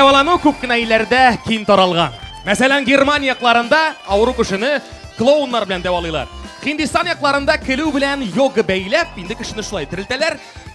дәвалану күп кенә илләрдә киң таралган. Мәсәлән, Германия якларында авыру кешене клоуннар белән дәвалыйлар. Хиндистан якларында көлү белән йога бәйләп, инде кешене шулай терелтәләр.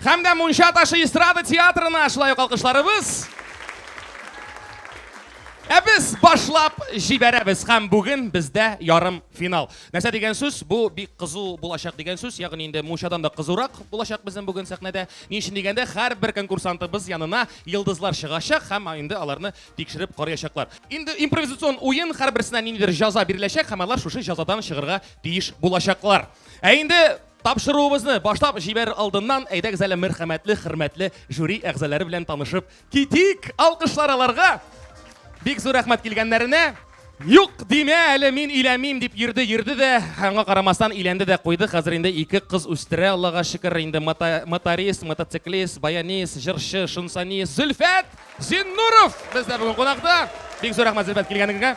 Һәм дә Мунча ташы эстрада театрына шулай ук алкышларыбыз. Ә без башлап җибәрәбез һәм бүген бездә ярым финал. Нәрсә дигән сүз? Бу бик кызу булачак дигән сүз. Ягъни инде мунчадан да кызурак булачак безнең бүген сәхнәдә. Ни өчен дигәндә, һәрбер конкурсантыбыз янына йолдызлар чыгачак һәм инде аларны тикшереп карыячаклар. Инде импровизацион уен һәрберсенә ниндидер җаза биреләчәк һәм алар шушы җазадан чыгарга тиеш булачаклар. Ә инде Тапшыруыбызны башлап җибәрер алдыннан, әйдәгез әле мәрхәмәтле, хөрмәтле жюри әгъзалары белән танышып китик. Алкышлар аларга. Бик зур рәхмәт килгәннәренә. Юк, димә әле мин иләмим дип йөрде, йөрде дә, аңа карамастан иләнде дә куйды. Хәзер инде ике кыз үстерә, Аллага шөкер, инде моторист, мотоциклист, баянист, җырчы, шунсанист Зөлфәт Зиннуров бездә бүген кунакта. Бик зур рәхмәт Зөлфәт килгәнегезгә.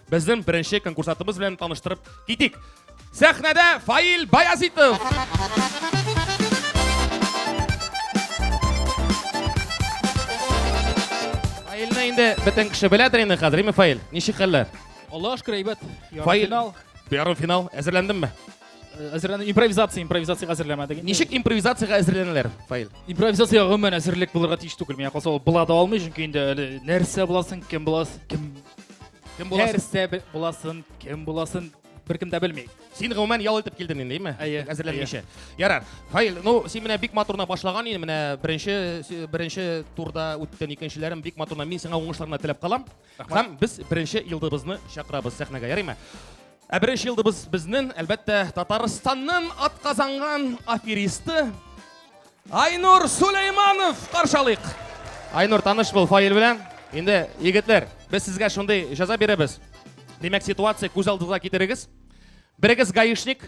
Безнең беренче конкурсантыбыз белән таныштырып китик. Сәхнәдә Фаил Баязитов. Фаилне инде бөтен кеше беләдер инде хәзер, име Фаил? Ничек хәлләр? Аллаһ шөкер, әйбәт. Фаил, ярым финал әзерләндеңме? әзерләнү импровизация импровизациягә әзерләмәдек ничек импровизациягә әзерләнәләр фаил импровизация гомумән әзерлек булырга тиеш түгел миңа калса ул була да алмый чөнки инде әле нәрсә буласың кем буласың кем кем буласың нәрсә буласың кем буласың беркем дә белми син гомумән ял итеп килдең инде әйме әйе әзерләнмичә ярар фаил ну син менә бик матурына башлаган инде менә беренче беренче турда үттең икенчеләрен бик матурына мин сиңа уңышлар гына теләп калам Һәм без беренче йылдыбызны чакырабыз сәхнәгә, ярыймы? Ә беренче йылдыбыз безнен, әлбәттә, Татарстаннан атказанган аферисты Айнур Сулейманов каршалыйк. Айнур таныш бул фаил белән. Инде егетләр, без сезгә шундый җәза бирәбез. Димәк, ситуация күз алдыгызга китерегез. Берегез гаишник,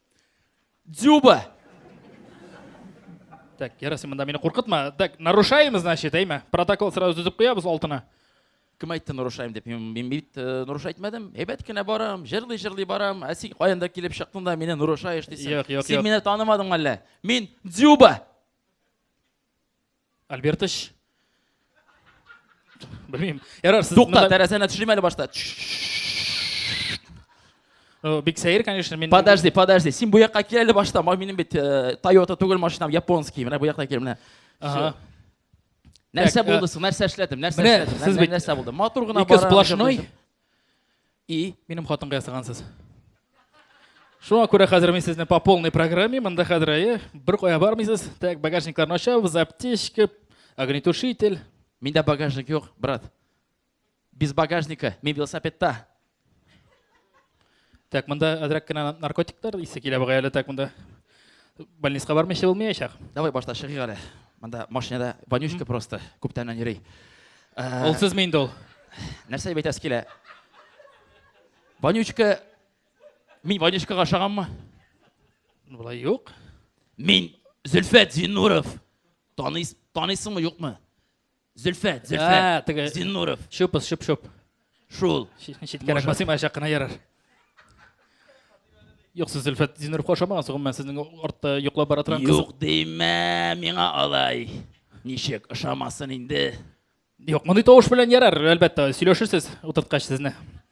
Дзюба! Так, ярасы мында мине куркытма. Так, нарушаем, значит, әйме? Протокол сразу төзеп куябыз алтына. Кем әйтте нарушаем деп? Мин, мин бит э, наруш әйтмәдем. Әйбәт кенә барам, җырлый җырлый барам. Ә син каян да килеп чыктың да мине нарушаешь дисең. Юк, юк, Син юк. мине танымадың әллә? Мин Дзюба! Альбертыч. Белмим. Ярар, сез Тукта, монда- тәрәзәне төшерим әле башта. Э, Бик сәер, конечно, мин... Подожди, подожди. Син бу якка кил әле башта. Ма- Минем бит э, Toyota түгел машинам, японский. Менә бу якта кил, менә. Ага. Нәрсә Так, э, булды соң? Нәрсә эшләдем? Нәрсә менә эшләдем? сез Нәрсә- бит- Нәрсә булды? Матур гына Ике бара, сплошной. И, минем хатынга ясагансыз. Шуңа күрә хәзер мин сезне по полной программе, монда хәзер әйе, бер кая бармыйсыз. Так, багажникларны ачабыз, аптечка, огнетушитель. Миндә багажник юк, брат. Без багажника, мин велосипедта. Так, монда әзрәк кенә наркотиклар исе килә бугай әле так монда. Больницага бармыйча булмаячак. Давай башта чыгыйк әле. Монда машинада вонючка просто күптәннән йөри. Э, ул сез инде ул. Нәрсә дип әйтәсе килә? Вонючка мин вонючкага ошаганмы? Болай юк. Мин Зөлфәт Зиннуров. Таныйс, таныйсыңмы, юкмы? Зөлфәт, Зөлфәт. Ә, Зиннуров. Шупс, шуп, шуп. Шул. Читкәрәк басыйм, ә чакына ярар. Юк, сез Зөлфәт Зиннуров ошамагансыз, гомумән сезнең артта йоклап бара торган кыз. Юк димә, миңа алай. Ничек ошамасын инде? Юк, мондый тавыш белән ярар, әлбәттә, сөйләшерсез утырткач сезне.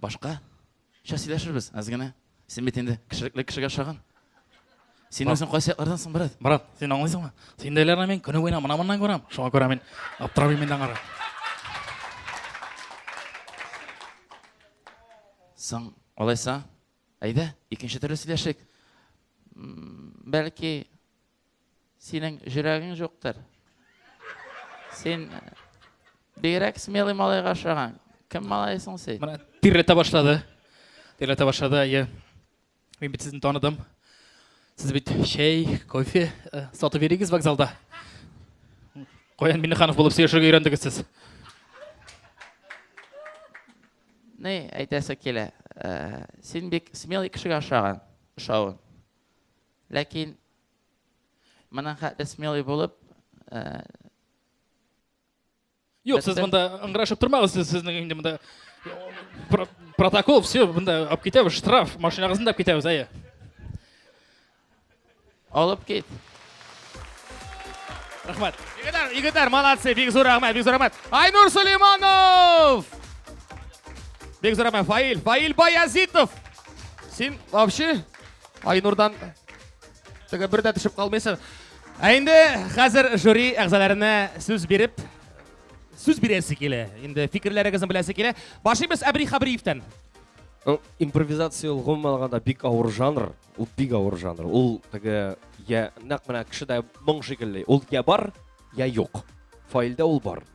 Башка? Сейчас сөйләшербез, әз генә. Син бит инде кешелекле кешегә ошаган. Син үзең кайсы яклардан соң, брат? Брат, син аңлыйсыңмы? Синдәйләрне мин көне буена мына моннан күрәм. Шуңа күрә мин аптырап йөрмим дә аңарга. Соң, алайса, әйдә, икенче төрле сөйләшик. Бәлки, Синең җөрәгең җуктыр. Син бигрәк смелый малайга ошаган. Кем малай соң син? Менә тирләтә башлады. Тирләтә башлады, әйе. Мин бит сезне таныдым. Сез бит чәй, кофе э, сатып йөригез вокзалда. Каян Миннеханов булып сөйләшергә өйрәндегез сез? Ни әйтәсе килә? Э, син бик смелый кешегә ошаган, ошавын. Ләкин моның хәтле смелый булып э, Юк, сез монда ыңгырашып тормагыз, сез сезнең инде монда протокол, все, монда алып китәбез, штраф, машинагызны да алып китәбез, әйе. Алып кит. Рахмат. Егетләр, егетләр, молодцы, бик зур рәхмәт, бик зур рәхмәт. Айнур Сулейманов! Бик зур рәхмәт, Фаил, Фаил Баязитов! Син вообще Айнурдан теге бер дә төшеп калмыйсың. Ә инде хәзер жюри әгъзаларына сүз биреп, сүз бирәсе килә. Инде фикерләрегезне беләсе килә. Башлыйбыз Әбри Хабриевтан. Импровизация ул гомумән алганда бик авыр жанр. Ул бик авыр жанр. Ул теге я нәкъ менә кешедә моң шикелле. Ул я бар, я юк. Файлда ул бар.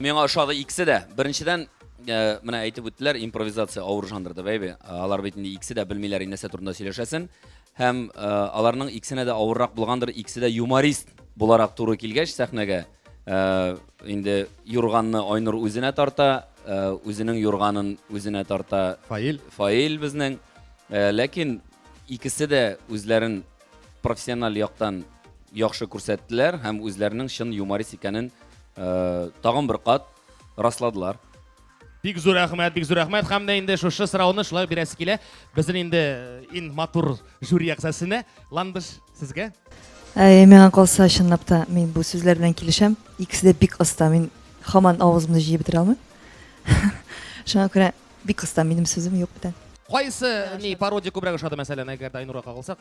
Миңа ошады икесе дә. Беренчедән, э, менә әйтеп үттеләр, импровизация авыр жанр дип, әйбе. Алар бит инде икесе дә белмиләр инде нәрсә турында сөйләшәсен. Һәм э, аларның икесенә дә авыррак булгандыр, икесе дә юморист буларак туры килгәч сәхнәгә, э, инде юрганны Айнур үзенә тарта, э, үзенең юрганын үзенә тарта Фаил. Фаил безнең. Э, Ләкин икесе дә үзләрен профессиональ яктан яхшы күрсәттеләр һәм үзләренең чын юморист икәнен э, тагын бер кат расладылар. Бик зур рәхмәт, бик зур рәхмәт. Һәм дә инде шушы сорауны шулай бирәсе килә. Безнең инде э, ин матур жюри әгъзасына Ландыш сезгә. Ә миңа калса чынлап та мин бу сүзләр белән килешәм. Икесе дә бик оста. Мин хаман авызымны җыеп бетерә алмыйм. Шуңа күрә Бик кыска, минем сүзем юк бүтән. Кайсы ни пародия күбрәк ошады мәсәлән, әгәр дә Айнурга кагылсак?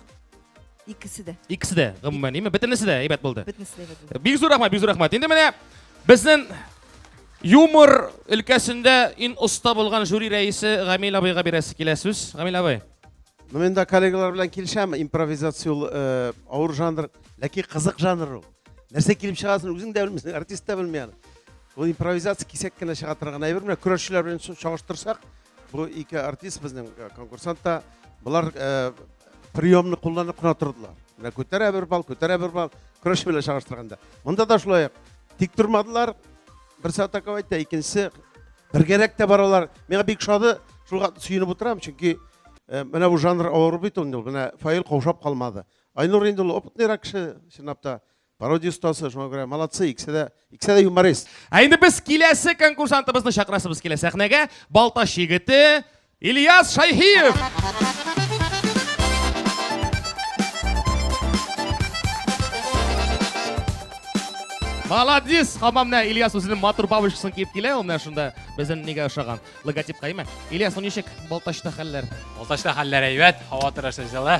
Икесе дә. Икесе дә, гомумән, име? Бөтенесе дә әйбәт булды. Бөтенесе дә әйбәт булды. Бик зур рәхмәт, бик зур рәхмәт. Инде менә безнең юмор өлкәсендә ин оста булган жюри рәисе Гамил абыйга бирәсе килә сүз. Гамил абый. Ну мен дә коллегалар белән килешәм, импровизация ул э, авыр жанр, ләкин кызык жанр ул. Нәрсә килеп чыгасын үзең дә белмисең, артист та белми аны. Бу импровизация кисәк кенә чыга торган әйбер. Менә көрәшчеләр белән чагыштырсак, бу ике артист безнең э, конкурсант та, болар э, приемны кулланып кына тордылар. Менә күтәрә бер бал, күтәрә бер бал, көрәш белән чагыштырганда. Монда да шулай тик тормадылар. Берсе атаковать итә, икенчесе бергәрәк тә баралар. Миңа бик шады, шуга сөенеп утырам, чөнки э, менә бу жанр авыр бит ул. Менә Фаил каушап калмады. Айнур инде ул опытныйрак кеше, чынлап та. Пародия остасы, шуңа күрә молодцы, икесе дә, икесе дә юморист. Ә инде без киләсе конкурсантыбызны чакырасыбыз килә сәхнәгә. Балтач егете Ильяс Шайхиев. Молодец! Хамам менә Ильяс үзенең матур бабочкасын киеп килә, ул менә шунда безнең нигә ошаган логотипка име. Ильяс, ну ничек Балтачта хәлләр? Балтачта хәлләр әйбәт, һава торышы җылы.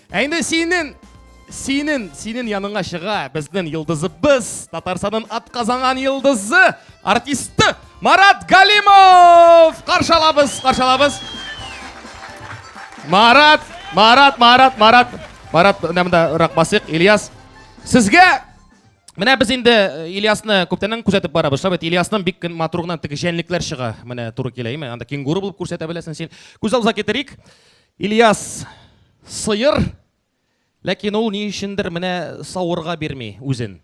Ә инде синен, синен, синен яныңа чыга безнен йылдызыбыз, Татарсанын атказанган йылдызы, артисты Марат Галимов! Каршалабыз, каршалабыз. Марат, Марат, Марат, Марат. Марат, менә монда рак басыйк, Ильяс. Сезгә Менә без инде э, Ильясны күптәннән күзәтеп барабыз. Шулай бит Ильясның бик матур гына теге җәнлекләр чыга. Менә туры килә, име? Анда кенгуру булып күрсәтә беләсең син. Күз алдыгызга китерик. Ильяс, сыер, ләкин ул ни өчендер менә савырга бирми үзен.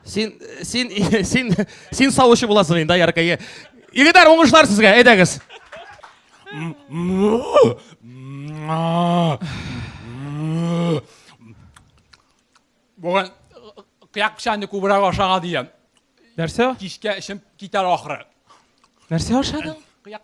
Син, син, син, син савучы буласың инде, яркәе. Егетләр, уңышлар сезгә, әйдәгез. Бүген кыяк печәнне күбрәк ашага дигән. Нәрсә? Кичкә эчем китәр ахры. Нәрсә ашадың? Кыяк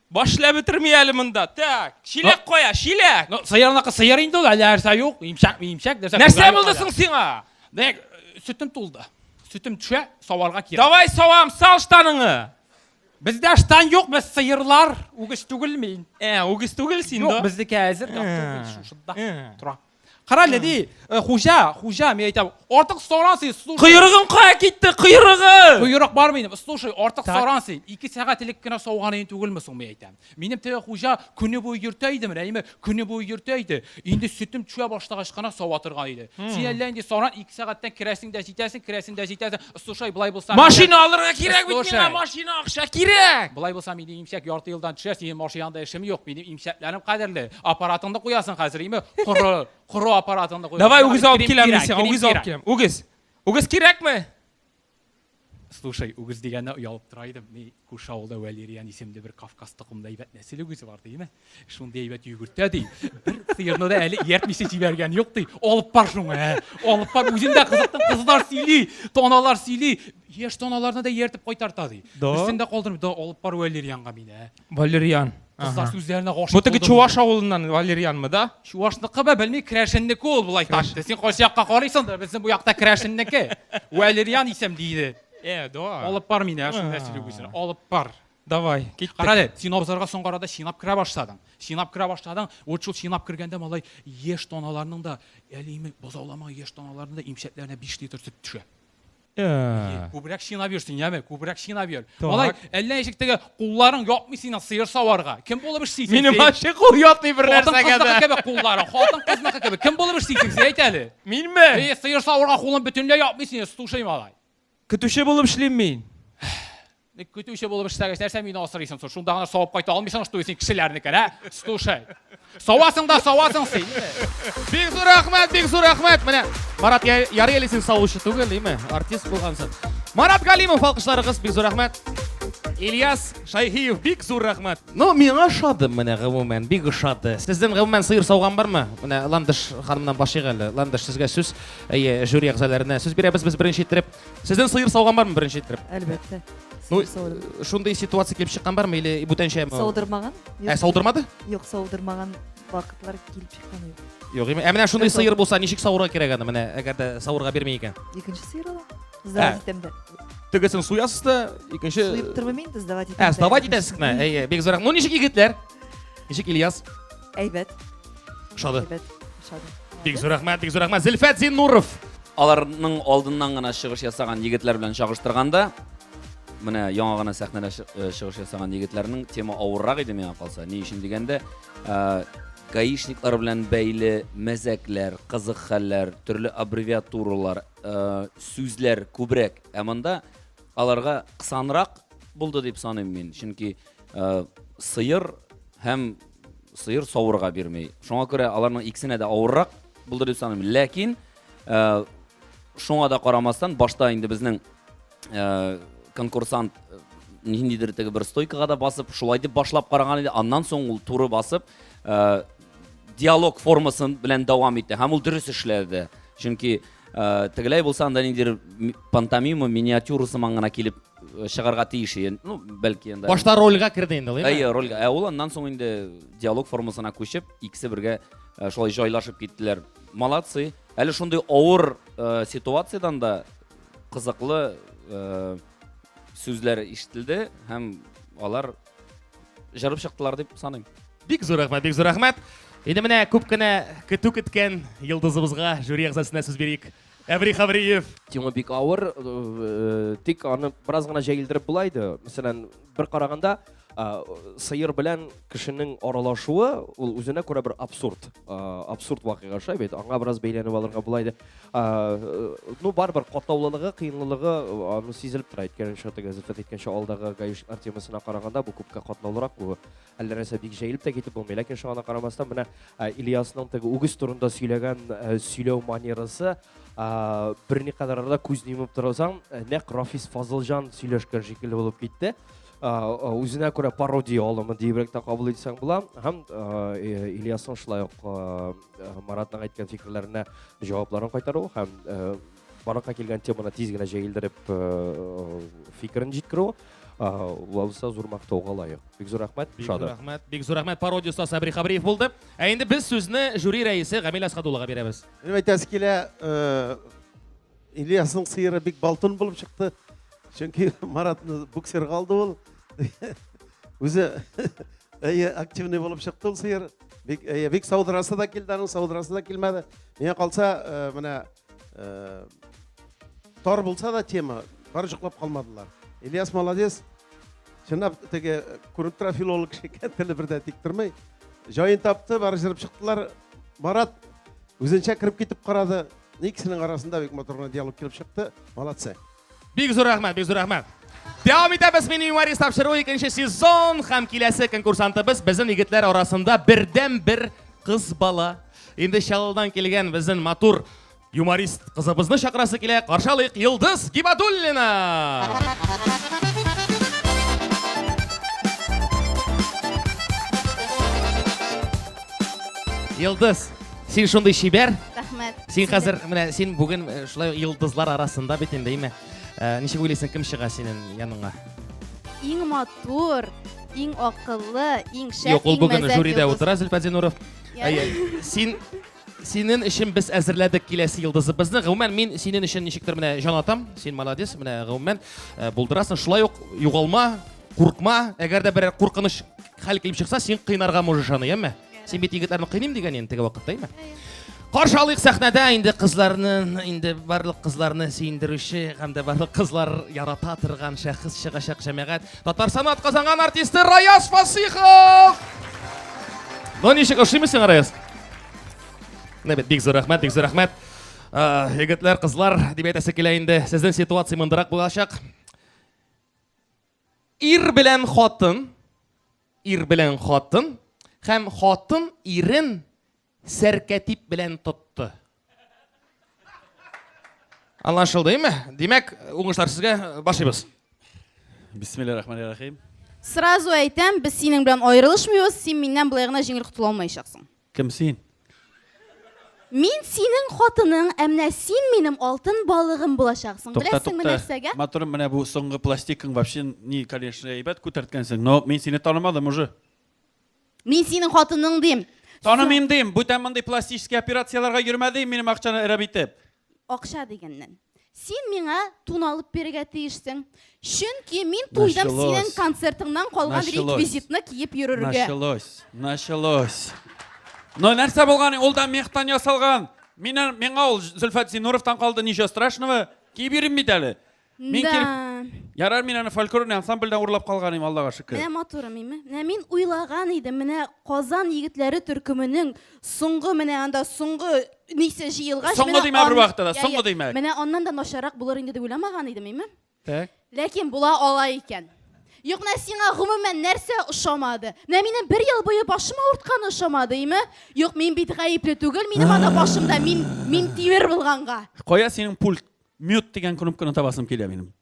Баш эшләп бетерми әле монда. Так, чиләк кая, чиләк? Ну, сыерныкы сыер инде ул, әле нәрсә юк, имчәк, имчәк, нәрсә. Нәрсә булды соң сиңа? Дәк, сөтем тулды. Сөтем төшә, саварга кирәк. Давай савам, сал штаныңы. Бездә штан юк, без сыерлар, үгез түгел мин. Ә, үгез түгел син, да? Юк, безнеке әзер, шушында. Тора. Кара әле ди, э, хуҗа, хуҗа, мин әйтәм, артык соран син, слушай. Койрыгым кая китте, койрыгы! Койрык бар минем, слушай, артык Так. соран син. Ике сәгать элек кенә сауган идең түгелме соң, мин әйтәм. Минем теге хуҗа көне буе йөртә иде менә, әйме, көне буе йөртә иде. Инде сөтем төшә башлагач кына сава торган иде. Син әллә инде саран, ике сәгатьтән керәсең дә җитәсең, керәсең дә җитәсең. Слушай, болай булса... Машина алырга кирәк бит миңа, машина акча кирәк! Болай булса, мин имсәк ярты елдан төшә, синең машинаңда эшем юк, минем имсәкләрем кадерле. Аппаратыңны куясың хәзер, име? Коры, коры аппаратыңны куясың. Давай үгез алып киләм мин сиңа, үгез алып киләм. Үгез. Үгез кирәкме? Слушай, үгез дигәнне оялып тора идем. Күрше авылда Вәлериан исемле бер Кавказ токымлы әйбәт нәсел үгезе бар, диеме? Шундый әйбәт йөгертә, ди. Бер сыерны да әле ияртмичә җибәргән юк, ди. Алып бар шуңа, ә? Алып бар, үзен дә кызыктым, кызлар сөйли, таналар сөйли. Яшь таналарны да ияртеп кайтарта, ди. Да. Берсен дә калдырмый, да алып бар Вәлерианга мине, ә? Валерьян. Кызлар Ага. сүзләренә гашык Бу теге булдым. Чуваш авылыннан Валерьянмы, да? Чувашныкы ба, белмим, Крәшеннеке ул, болай тартты. Син кайсы якка карыйсың да, безнең бу якта Крәшеннеке. Вәлериан исем, диде. Э, да. Алып бар мине, шуны нәрсә сөйлибезне. Алып бар. Давай, киттек. Кара әле, син абзарга соңгы арада чинап керә башладың. Чинап керә башладың. Вот шул чинап кергәндә малай еш тоналарның да, әлиме бозаулама еш тоналарның да имчәкләренә 5 литр сөт төшә. Э. Күбрәк чинап йөрсен, яме, күбрәк чинап йөр. Малай, әллә ничек теге Кулларың ятмый синең сыер саварга. Кем булып эшлисең? Минем син? ачы кул ятмый бер Хатын нәрсәгә кызныкы дә. кебек кулларың, хатын кызныкы кебек. Кем булып эшлисең син әйт әле? Минме? Эй, сыер саварга кулың бөтенләй ятмый синең, стушый малай. Көтүче булып эшлим мин. Ник көтүче булып эшләгәч, нәрсә мине асрыйсың соң? Шунда гына савып кайта алмыйсың, что син кешеләрнекен, ә? Стушай. Савасың да савасың син. Бик зур рәхмәт, бик зур рәхмәт. Менә Марат ярый әле син савучы түгел, димме? Артист булгансың. Марат Галимов алкышларыгыз бик зур рәхмәт. Ильяс Шайхиев бик зур рәхмәт. Ну, миңа ошады менә гомумән, бик ошады. Сездән гомумән сыер сауган бармы? Менә Ландыш ханымнан башлыйк әле. Ландыш сезгә сүз, әйе, жюри әгъзаларына сүз бирәбез без беренче иттереп. Сездән сыер сауган бармы беренче иттереп? Әлбәттә. Ну, шундый ситуация килеп чыккан бармы или бүтәнчәме? Саудырмаган. Ә саудырмады? Юк, саудырмаган вакытлар килеп чыккан юк. Юк, ә менә шундый сыер булса, ничек савырга кирәк аны? Менә әгәр дә савырга бирмәй икән. Икенче сыер ала. Сдавать итәм дә. Тегесен суясыз да, икенче Суеп тормыйм инде, сдавать итәм. Ә, сдавать итәсез генә. Әйе, бик зурак. Ну ничек егетләр? Ничек Ильяс? Әйбәт. Ошады. Әйбәт. Ошады. Бик зур рәхмәт, бик зур рәхмәт. Зилфәт Зиннуров. Аларның алдыннан гына чыгыш ясаган егетләр белән чагыштырганда, Менә яңа гына сәхнәдә э, чыгыш ясаган егетләрнең тема авыррак иде миңа калса. Ни өчен дигәндә, э, гаишниклар белән бәйле мәзәкләр, кызык хәлләр, төрле аббревиатуралар, э, сүзләр күбрәк. Ә монда аларга кысанрак булды дип саныйм мин. Чөнки сыер һәм сыер савырга бирмей. Шуңа күрә аларның икесенә дә авыррак булды дип саныйм. Ләкин шуңа да карамастан башта инде безнең э, конкурсант э, ниндидер теге бер стойкага да басып шулай дип башлап караган иде аннан соң ул туры басып э, диалог формасы белән дәвам итте һәм ул дөрес эшләде чөнки э, тегеләй булса анда ниндидер пантомима миниатюра сыман гына килеп э, чыгарга тиеш иде ну бәлки енді башта рольга керде инде әйе рольга ә ул аннан соң инде диалог формасына күчеп икесе бергә шулай жайлашып киттеләр молодцы әле шундый авыр ситуациядан да Кызыклы сүзләр ишетелде һәм алар җырып чыктылар дип саныйм. Бик зур рәхмәт, бик зур рәхмәт. Инде менә күп кенә көтү көткән йолдызыбызга, жюри әгъзасына сүз бирик. Әври Хавриев. Тема бик авыр, тик аны бераз гына җәелдереп була иде. Мәсәлән, бер караганда сыер белән кешенең аралашуы ул үзенә күрә бер абсурд абсурд вакыйга шулай бит аңа бераз бәйләнеп алырга була иде ну барыбер катлаулылыгы кыенлылыгы аны сизелеп тора әйткән чаты газета әйткәнчә алдагы гаиш артемасына караганда бу күпкә катлаулырак бу әллә нәрсә бик җәелеп тә китеп булмый ләкин шуңа карамастан менә ильясның теге үгез турында сөйләгән сөйләү манерасы берникадәр арада күзне йомып торасаң нәкъ рафис фазылҗан сөйләшкән шикелле булып китте үзенә күрә пародия алымы диебрәк тә кабул итсәң була һәм ильясның шулай ук маратның әйткән фикерләренә җавапларын кайтару һәм баракка килгән теманы тиз генә җәелдереп фикерен җиткерү валса зур мактауга лаек бик зур рәхмәт бик зур рәхмәт бик зур рәхмәт пародия остасы сабри хабриев булды ә инде без сүзне жюри рәисе гамил әсхадуллага бирәбез әйтәсе килә Ильясның сыеры бик балтын булып чыкты. Чөнки Маратны буксирга алды ул. Үзе әйе активный булып чыкты ул сыер. Бик әйе, бик саудырасы да килде, аның саудырасы да килмәде. Миңа калса, э, менә э, тар булса да тема, бар җоклап калмадылар. Ильяс молодец. Чынлап теге э, күреп тора филолог кеше икән, теле бердә тик тормый. Җаен тапты, бары җырып чыктылар. Марат үзенчә кереп китеп карады. Иксенең арасында бик матур гына диалог килеп чыкты. Молодцы. Бик зур рәхмәт, бик зур рәхмәт. Дәвам итәбез мини юморист тапшыруы икенче сезон һәм киләсе конкурсантыбыз безнең егетләр арасында бердән бер кыз бала. Инде Чаллыдан килгән безнең матур юморист кызыбызны чакырасы килә. Каршы алыйк Йылдыз Гибадуллина. Йылдыз, Син шундый чибәр. Рәхмәт. Син хәзер менә син бүген э, шулай йолдызлар арасында бит инде, әйме. Э, ничек уйлыйсың, кем чыга синең яныңа? Иң матур, иң акыллы, иң шәп, Юк, ул бүген жюридә утыра Зөлфәт Зинуров. Әйе. Син синен өчен без әзерләдек киләсе йолдызыбызны. Гомумән мин синен өчен ничектер менә җан атам. Син молодец, менә гомумән э, булдырасың. Шулай ук югалма, куркма. Әгәр дә бер куркыныч хәл килеп чыкса, син кыйнарга можешь аны, яме? Син бит егетләрне кыйныйм дигән инде теге вакытта, әйме? Каршы алыйк сәхнәдә инде кызларны, инде барлык кызларны сөендерүче һәм дә барлык кызлар ярата торган шәхес чыгачак җәмәгать. Татарстан атказанган артисты Раяз Фасихов! Ну ничек ошыймы сиңа Раяз? Менә бит бик зур рәхмәт, бик зур рәхмәт. Э, егетләр, кызлар, дип әйтәсе килә инде. Сезнең ситуация мондырак булачак. Ир белән хатын, ир белән хатын һәм хатын ирен сәркәтип белән тотты. Аңлашылдымы? Димәк, уңышлар сезгә башлыйбыз. Бисмиллаһир рахманир рахим. Сразу әйтәм, без синең белән аерылышмыйбыз, син миннән болай гына җиңел котыла алмаячаксың. Кем син? Мин синең хатының, ә менә син минем алтын балыгым булачаксың. Тукта, Беләсеңме тукта. нәрсәгә? Матурым, менә бу соңгы пластикың вообще ни, конечно, әйбәт күтәрткәнсең, но мин сине танымадым уже. Мин синең хатының дим. Танымыйм дим, бүтән мондый пластический операцияләргә йөрмә дим минем акчаны эрәп итеп. Акча дигәннән. Син миңа тун алып бирергә тиешсең. Чөнки мин туйдым Началось. синең концертыңнан калган Началось. реквизитны киеп йөрергә. Началось. Началось. Но нәрсә булган? Ул да мехтан ясалган. Мина, миңа ул Зөлфәт Зинуровтан калды, ничего страшного. Киеп йөрим бит әле. Мин Да. кирәк- Ярар, мин аны фольклорный ансамбльдән урлап калган идем, Аллага шөкер. Менә матурым, име? Менә мин уйлаган идем, менә Казан егетләре төркеменең соңгы менә анда соңгы нисе җыелгач, Соңгы менә димә бер ан- вакытта да, Я, соңгы я. димә. Менә аннан да начаррак булыр инде дип уйламаган идем, име? Так. Ләкин була ала икән. Юк, менә сиңа гомумән нәрсә ошамады? Менә минем бер ел буе башым авыртканы ошамады, име? Юк, мин бит гаепле түгел, минем анда башымда мин мин тимер булганга. Кая синең пульт? Мют дигән кнопканы табасым килә минем.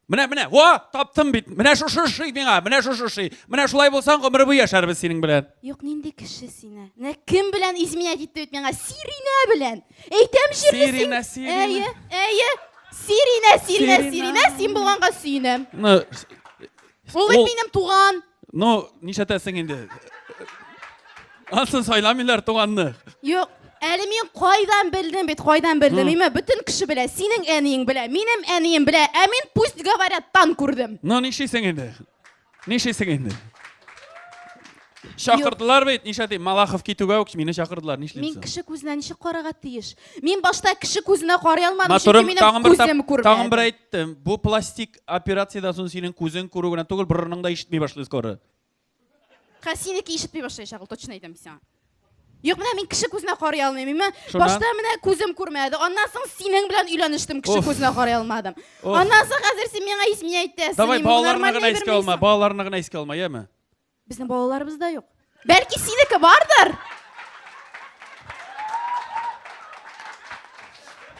Менә, менә, о, таптым бит. Менә шушы шый миңа, менә шушы шый. Менә шулай булсаң, гомер буе яшәрбез синең белән. Юк, нинди кеше сине? Менә кем белән изменять итте бит миңа? Сиринә белән. Әйтәм җирле Сиринә, Сиринә. Әйе, әйе. Сиринә, Сиринә, Сиринә, син булганга сөенәм. Ну, Ул бит минем туган. Ну, нишәтәсең инде? Ансын сайламыйлар туганны. Юк, Әле мин кайдан белдем бит, кайдан белдем. Имә бөтен кеше белә. Синең әниең белә, минем әнием белә. Ә мин пусть говорят, тан күрдем. Ну нишлисең инде? Нишлисең инде? Чакырдылар бит, нишлә дип, Малахов китүгә үк мине чакырдылар, нишлисең? Мин кеше күзенә ничек карарга тиеш? Мин башта кеше күзенә карый алмадым, чөнки минем күзем күрмәде. Тагын бер әйттем, бу пластик Операциядән соң синең күзең күрү генә түгел, борының да ишетми башлый скоро. Ха, синеке ишетми башлаячак ул, точно әйтәм сиңа. Юк, менә мин кеше күзенә карый алмыйм. Мин Шуннан? башта менә күзем күрмәде. Аннан соң синең белән өйләнештем, кеше Уф. күзенә карый алмадым. Уф. Аннан соң хәзер син миңа ис миңа әйтәсең. Давай, мин балаларны нормально гына әйберме искә алма, исеме? балаларны гына искә алма, яме? Безнең балаларыбыз да юк. Бәлки синеке бардыр?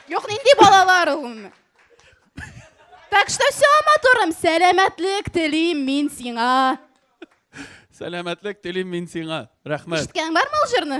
Юк, нинди балалар ул? Так что все, матурым, сәламәтлек телим мин сиңа. Сәламәтлек телим мин сиңа. Рәхмәт. Ишеткән бармы ул җырны?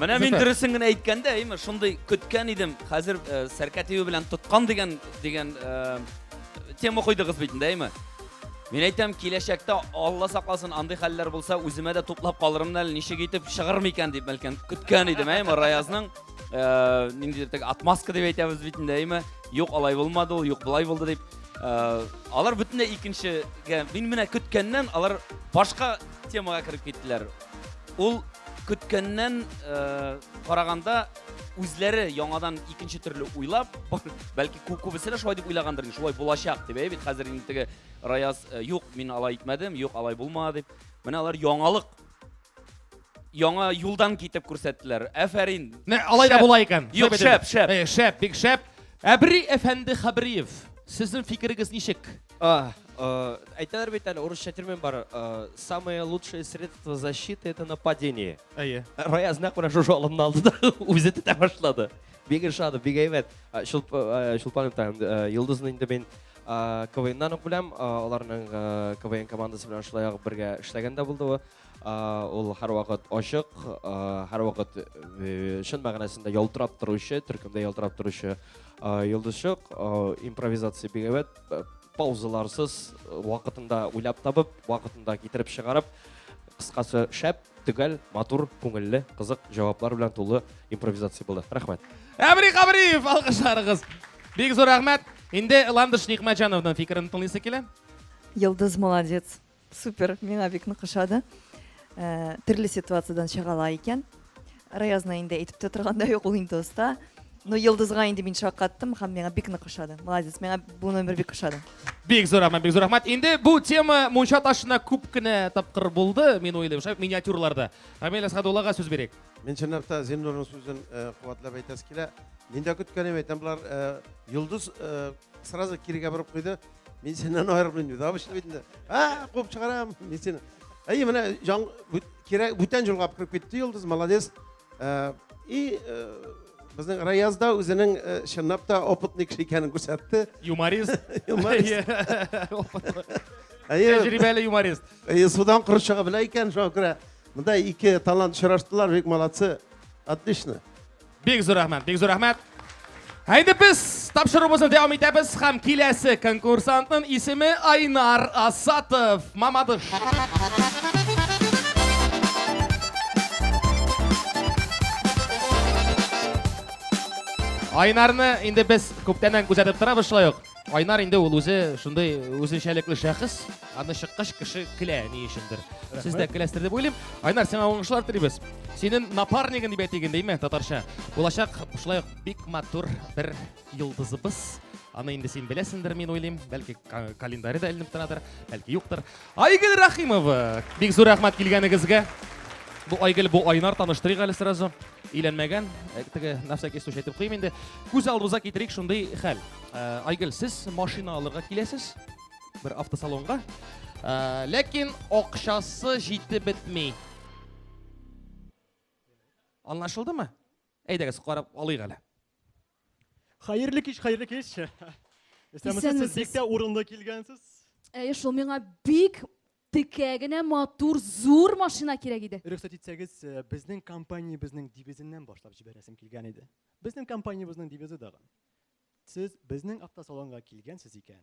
Менә мин дөресен генә әйткәндә, әйме, шундый көткән идем. Хәзер э, сәркә тибе белән тоткан дигән дигән э, тема куйдыгыз бит инде, әйме. Мин әйтәм, киләчәктә Алла сакласын, андый хәлләр булса, үземә дә туплап калырмын әле, ничек итеп чыгыр микән дип бәлкем көткән идем, әйме, Раязның э, ниндидер теге отмазка дип әйтәбез бит инде, әйме. Юк, алай булмады ул, юк, болай булды дип. Э, алар бөтенләй икенчегә, мин менә көткәннән алар башка темага кереп киттеләр. Ул көткәннән э, караганда үзләре яңадан икенче төрле уйлап, бәлки кү- күбесе дә шулай дип уйлагандыр, инде, шулай булачак дип, әй бит хәзер инде теге Раяз э, юк, мин алай итмәдем, юк, алай булмады дип. Менә алар яңалык яңа юлдан китеп күрсәттеләр. Әфәрин. Менә алай да Шәп. була икән. Юк, Шәп итеп. шәп, шәп. Э, Шәп, бик шәп. Әбри әфәнде Хабриев, сезнең фикерегез ничек? А, э, әйтәләр бит әле урысча термин бар. Э, самое лучшее средство защиты это нападение. Әйе. Раяз нәкъ менә шушы алымны алды да үзе тетә башлады. Бик ошады, бик әйбәт. Э, Чулпан э, Итаем, э, Йолдызны инде мин э, КВНнан ук беләм. Э, аларның э, КВН командасы белән шулай ук бергә эшләгән дә булды ул. Э, ул һәрвакыт ачык, э, һәрвакыт э, чын мәгънәсендә ялтырап торучы, төркемдә ялтырап торучы э, йолдызчык. Э, импровизация бик әйбәт. э, паузаларсыз э, вакытында уйлап табып вакытында китереп чыгарып кыскасы шәп төгәл матур күңелле кызык җаваплар белән тулы импровизация булды рәхмәт әмри габриев алкышларыгыз бик зур рәхмәт инде ландыш никмәтҗановның фикерен тыңлыйсы килә йолдыз молодец Супер, миңа бик нык ошады. Э, Төрле ситуациядән чыга ала икән. Раязна инде әйтеп тә торганда юк, ул инде оста. Но Йолдызга инде мин шаккаттым һәм миңа бик нык ошады. Молодец, миңа бу номер бик ошады. Бик зур рәхмәт, бик зур рәхмәт. Инде бу тема мунча ташына күп кенә тапкыр булды, мин уйлыйм, шәп миниатюрларда. Рамил Әсхадуллага сүз бирик. Мин чынлыкта Зиннурның сүзен э, куатлап әйтәсе килә. Мин дә көткәнем әйтәм, болар э, Йолдыз э, сразу кирегә борып куйды. Мин синнән аерылмыйм диде. Абыч бит инде. А, куып чыгарам. Мин сине. Әй, менә җан кирәк бүтән җылгап кирип китте Йолдыз, молодец. Э, и э, безнең Раязда үзенең э, чынлап та опытный кеше икәнен күрсәтте. Юморист. Юморист. Әйе. Тәҗрибәле юморист. Әйе, судан кыры чыга белә икән, шуңа күрә монда ике талант очраштылар, бик молодцы. Отлично. Бик зур рәхмәт, бик зур рәхмәт. Әйдә без тапшыруыбызны дәвам итәбез һәм киләсе конкурсантның исеме Айнар Асатов. Мамадыш. Айнарны инде без күптәннән күзәтеп торабыз шулай ук. Айнар инде ул үзе шундый үзенчәлекле шәхес, аны чыккач кеше көлә ни өчендер. Сез дә көләсездер дип уйлыйм. Айнар, сиңа уңышлар телибез. Синең напарнигың дип әйтик инде, татарча. Булачак шулай ук бик матур бер йолдызыбыз. Аны инде син беләсеңдер, мин уйлыйм. Бәлки календаре дә эленеп торадыр, бәлки юктыр. Айгөл Рахимова! Бик зур рәхмәт килгәнегезгә. Бу Айгөл, бу Айнар, таныштырыйк әле сразу. Өйләнмәгән, э, теге нәрсә кесү әйтеп куйм инде. Күз алдыбызга китерик шундый хәл. Э, Айгөл, сез машина алырга киләсез бер автосалонга. Э, ләкин акчасы җитеп бетми. Анлашылдымы? Әйдәгез, карап алыйк әле. Хәерле кич, хәерле кич. Исәнмесез, сез бик тә урынлы килгәнсез. Әйе, шул миңа бик текә генә матур зур машина кирәк иде. Рөхсәт итсәгез, э, безнең компаниябезнең девизеннән башлап җибәрәсем килгән иде. Безнең компаниябезнең девизы дагы. Сез безнең автосалонга килгәнсез икән,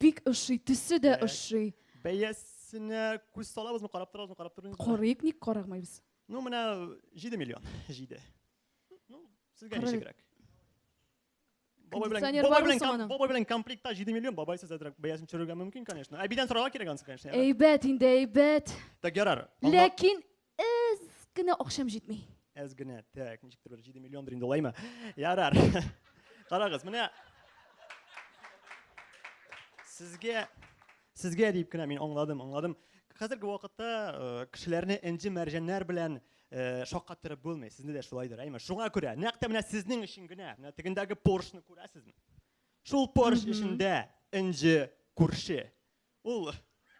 Бик ошый, төсе дә ошый. Бәясенә күз салабызмы, карап торабызмы, карап тормыйбызмы? Карыйк, ник карамыйбыз? Ну, менә 7 миллион, 7. Ну, сезгә Карыйк. ничегрәк? Бабай белән, Кондиционер бабай бар белән, бу ком- саманың? бабай белән комплектта 7 миллион, бабай сез әзрәк бәясен төшерергә мөмкин, конечно. Әбидән сорарга кирәк ансы, конечно. Әйбәт инде, әйбәт. Так, ярар. Аңла- Ләкин Әз генә акчам җитми. Әз генә, так, ничектер бер 7 миллион инде улаймы? Ярар. Карагыз, менә Сезгә сезгә дип кенә мин аңладым, аңладым. Хәзерге вакытта э, кешеләрне энҗе мәрҗәннәр белән э, шаккаттырып булмый. Сезне дә шулайдыр, әйме? Шуңа күрә, нәкъ тә менә сезнең өчен генә, менә тегендәге поршны күрәсезме? Шул порш эчендә энҗе күрше. Ул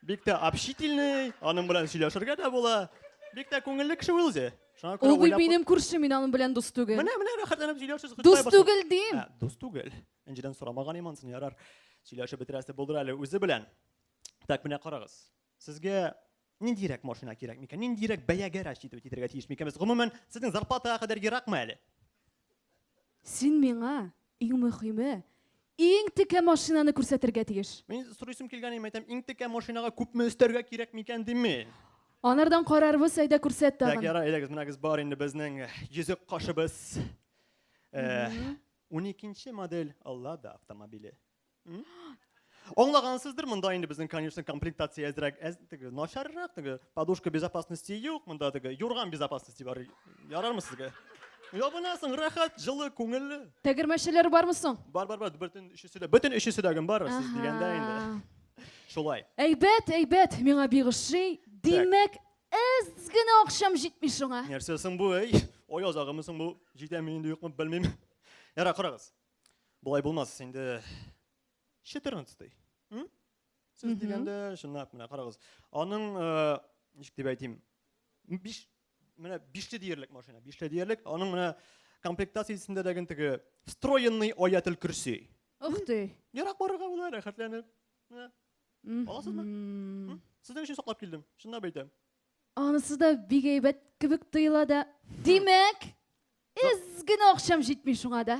бик тә общительный, аның белән сөйләшергә дә була. Бик тә күңелле кеше ул үзе. Шуңа күрә Ул бит уйлап- минем күршем, мин аның белән дус түгел. Менә, менә рәхәтләнеп сөйләшәсез. Дус Хөстай башлады. түгел дим. Ә, Дус түгел. Энҗедән сорамаган имансың, ярар. Сөйләшеп бетерәсе булдыр әле үзе белән. Так, менә карагыз. Сезгә Ниндирәк машина кирәк микән? Ниндирәк бәягә расчитывать итәргә тиеш микән без? Гомумән, сезнең зарплатага кадәр еракмы әле? Син миңа, иң мөхиме, иң текә машинаны күрсәтергә тиеш. Мин сорыйсым килгән иде, әйтәм, иң текә машинага күпме өстәргә кирәк микән дим мин. Анардан карарбыз, әйдә күрсәт тагын. Так, ярар, әйдәгез, менәгез бар инде безнең йөзек кашыбыз. Уникенче модель Лада автомобиле. Аңлагансыздыр, монда инде безнең, конечно, комплектация әзрәк, әз, теге, начаррак, теге, подушка безопасности юк, монда теге, юрган безопасности бар. Ярармы сезгә? Ябынасың, рәхәт, җылы, күңелле. Тәгәрмәчләр бармы соң? Бар, бар, бар, бөтен өчесе дә, бөтен өчесе дә гем бар, сез дигәндә инде. Шулай. Әйбәт, әйбәт, миңа бик ошый. Димәк, әз генә акчам җитми шуңа. Нәрсә соң бу, әй? Ай азагымы соң бу? Җитәме инде, юкмы, белмим. Ярар, карагыз. Болай булмас инде 14 м? Сез дигәндә, чынлап, менә карагыз. Аның, э, ничек дип әйтим, 5 менә 5 диярлек машина, 5 диярлек. Аның менә комплектациясендә дә ген теге встроенный аятел курси. Ух ты. Ярак барырга була, рәхәтләнеп. Менә. Аласызмы? Сезнең өчен саклап килдем. Чынлап әйтәм. Анысы да бик әйбәт кебек тоела да. Димәк, эз генә акчам җитми шуңа да.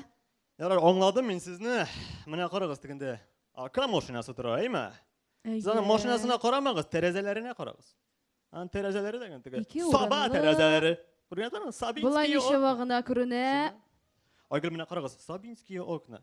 Ярар, аңладым мин сезне. Менә карагыз тегендә. Ака машинасы тора, әйме? Сез аның машинасына карамагыз, тәрәзәләренә карагыз. Ан тәрәзәләре дә гән теге. Саба тәрәзәләре. Күргәнсезме? Сабинский. Болай ничәва гына күренә. Айгөл менә карагыз, Сабинский окна.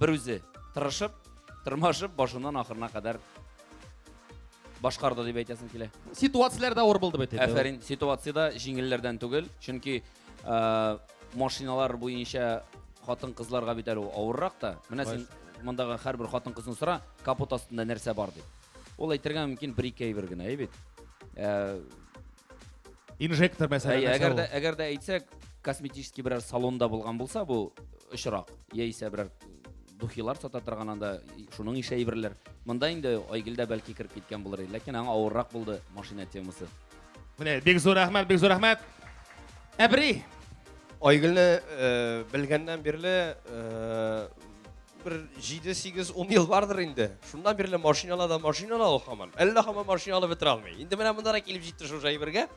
Бер үзе тырышып, тырмашып, башыннан ахырына кадәр башкарды дип әйтәсең килә. Ситуацияләрдә авыр булды бит. Әфәрин, ситуациядә җиңелләрдән түгел, чөнки э, машиналар буенча хатын-кызларга бит әле авыррак та. Менә син мондагы һәрбер хатын-кызны сора, капот астында нәрсә бар дип. Ул әйтергә мөмкин бер-ике әйбер генә, әйбит. Э, инжектор мәсәлән Әй, әгәр дә әгәр дә әйтсәк косметический берәр салонда булган булса бу очрак яисә берәр духилар сата торган анда шуның ише әйберләр монда инде айгел дә бәлки кереп киткән булыр иде ләкин аңа авыррак булды машина темасы менә бик зур рәхмәт бик зур рәхмәт әбри айгелне э, белгәннән бирле э, Бер 7-8-10 ел бардыр инде. Шуннан бирле машинала да машинала ул хаман. Әллә хаман машинала бетерә алмый. Инде менә монда да килеп җитте шул җайбергә.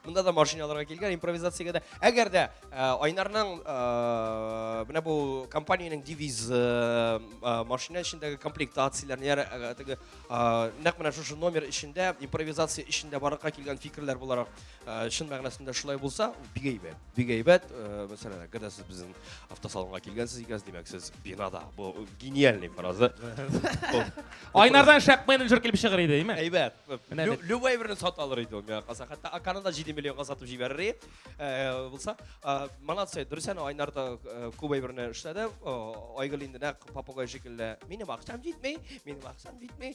Монда да машиналарга килгән импровизациягә дә. Әгәр дә э, Айнарның э, менә бу компаниянең девиз э, машина эчендәге комплектацияләр, нәр теге нәкъ менә шушы номер эчендә импровизация эчендә барлыкка килгән фикерләр буларак Э, чын мәгънәсендә шулай булса, бик әйбәт. Бик әйбәт. Э, мәсәлән, әгәр дә сез безнең автосалонга килгәнсез икән, димәк, сез бинада. Бу гениальный фраза. Айнардан шәп менеджер килеп чыгыр иде, әйме? Әйбәт. Любой берне сата алыр иде ул миңа калса. Хәтта Аканы да 7 миллионга сатып җибәрер иде. Э, булса, молодцы, дөресен Айнар да күп әйберне эшләде. Айгөл инде нәкъ попугай шикелле. Минем акчам җитми, минем акчам җитми.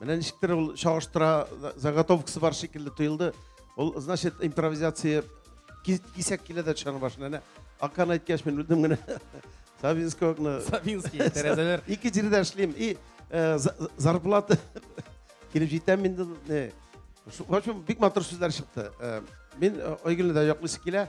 Менә ничектер ул чагыштыра заготовкасы бар шикелле тоелды. Ул значит импровизация кисәк килә дә төшәне башына. Әнә Акан әйткәч мин белдем генә. Савинский окна. Савинский тәрәзәләр. Ике җирдә эшлим. И э, зарплата килеп җитәм инде. В общем, бик матур сүзләр чыкты. Э, мин э, Айгөлне дә яклыйсы килә.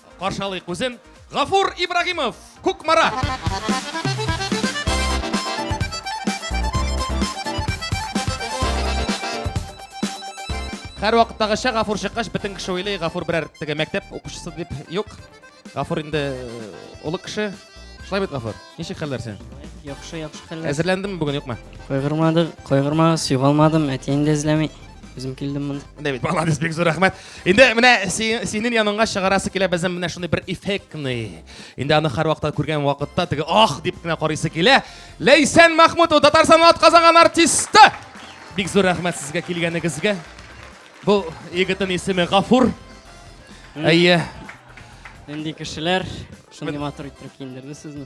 Каршы алыйк үзен, Гафур Ибрагимов, Кукмара! Хәр вакыттагыча Гафур чыккач, бөтен кеше уйлый, Гафур берәр теге мәктәп укучысы дип. Юк. Гафур инде э, олы кеше. Шулай бит, Гафур. Ничек хәлләр син? Яхшы, яхшы хәлләр. Әзерләндеңме бүген, юкмы? Кайгырмадык, кайгырмагыз, югалмадым, әти инде эзләми. Үзем килдем монда. Менә бит, молодец, бик зур рәхмәт. Инде менә синең яныңа чыгарасы килә безнең менә шундый бер эффектный. Инде аны һәр вакытта күргән вакытта теге ах дип кенә карыйсы килә. Ләйсән Махмутова, Татарстанның атказанган артисты. Бик зур рәхмәт сезгә килгәнегезгә. Бу егетнең исеме Гафур. Әйе. Нинди кешеләр шундый матур итеп киендерде сезне?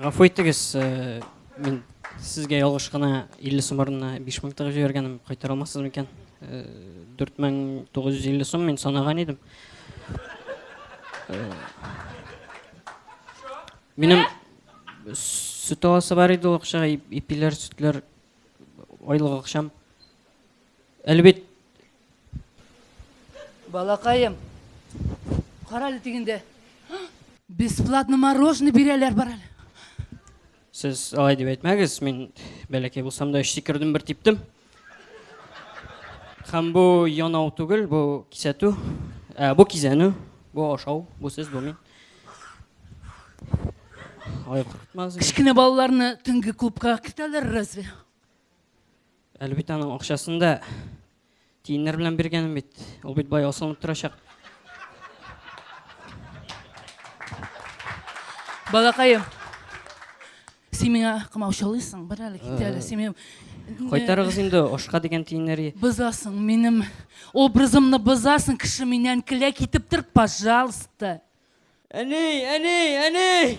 Гафу итегез, э, мин сезгә ялгыш кына 50 сум урынына 5000 тыгып җибәргәнем, кайтара алмассызмы икән? 4950 э, сум мин санаган идем. Э, минем сөт аласы бар иде ул акчага, ипиләр, сөтләр, айлык акчам. Әлбәт, Балакаем, кара әле тигендә. Бесплатно мороженое бирәләр бар әле. Сез алай дип әйтмәгез, мин бәләкәй булсам да өч сикердем бер типтем. Һәм бу янау түгел, бу кисәтү, ә, бу кизәнү, бу ашау, бу сез, бу мин. Алай куркытмагыз. Кечкенә балаларны төнге клубка кертәләр разве? Әле бит аның акчасын да тиеннәр белән биргәнем бит. Ул бит бай асылынып торачак. Балакаем. Син миңа кымаучылыйсың, бер әле кит әле. Син Кайтарыгыз инде ашка дигән тиеннәре. Бозасың минем образымны бозасың, кеше миннән килә китеп тор, пожалуйста. Әни, әни, әни!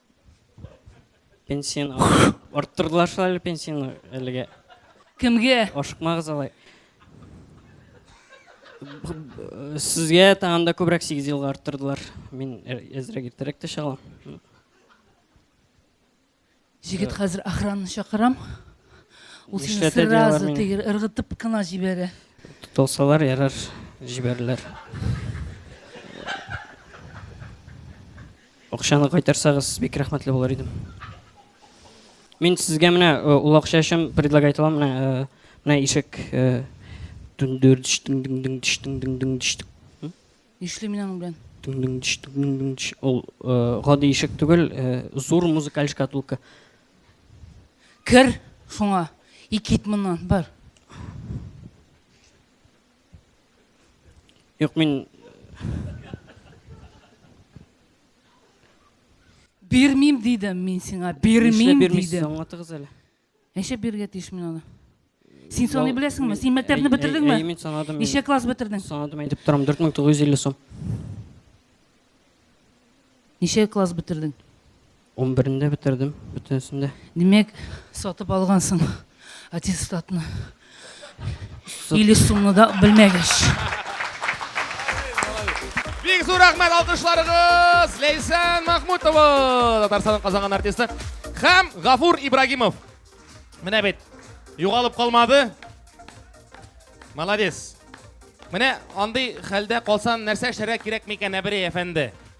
Пенсияне арттырдылар шул әле пенсияне әлегә. Кемгә? Ашыкмагыз алай. Сезгә тагын да күбрәк 8 елга арттырдылар. Мин әзрәк иртәрәк тә чыгам. Җегет хәзер охранны чакырам. Ул сине Нишләтә диалар сразу мине? тегер ыргытып кына җибәрә. Тотылсалар ярар, җибәрерләр. Акчаны кайтарсагыз бик рәхмәтле булыр идем. Мин сезгә менә ул акча өчен предлагать итәм менә менә ишек дүндүрдш дүндүндүндш дүндүндүндш. Нишли мин аның белән? Дүндүндш дүндүндш. Ул гади ишек түгел, зур музыкаль шкатулка. Кер шуңа. И кит моннан, бар. Юк, мин Бирмим дидем мин сиңа, бирмим дидем. Аңлатыгыз әле. Ничә биргә тиеш мин аны? Син саный беләсеңме? Син мәктәпне бетердеңме? Әйе, мин санадым. Ничә класс бетердең? Санадым, әйтеп торам, 4950 сум. Ничә класс бетердең? Унберендә бетердем бөтенесен дә. Димәк, сатып алгансың аттестатны. Или сумны да белмәгәч. Бик зур рәхмәт алкышларыгыз! Ләйсән Махмутова, Татарстанның казанган артисты һәм Гафур Ибрагимов. Менә бит, югалып калмады. Молодец. Менә андый хәлдә калсан нәрсә эшләргә кирәк микән, Әберей әфәнде?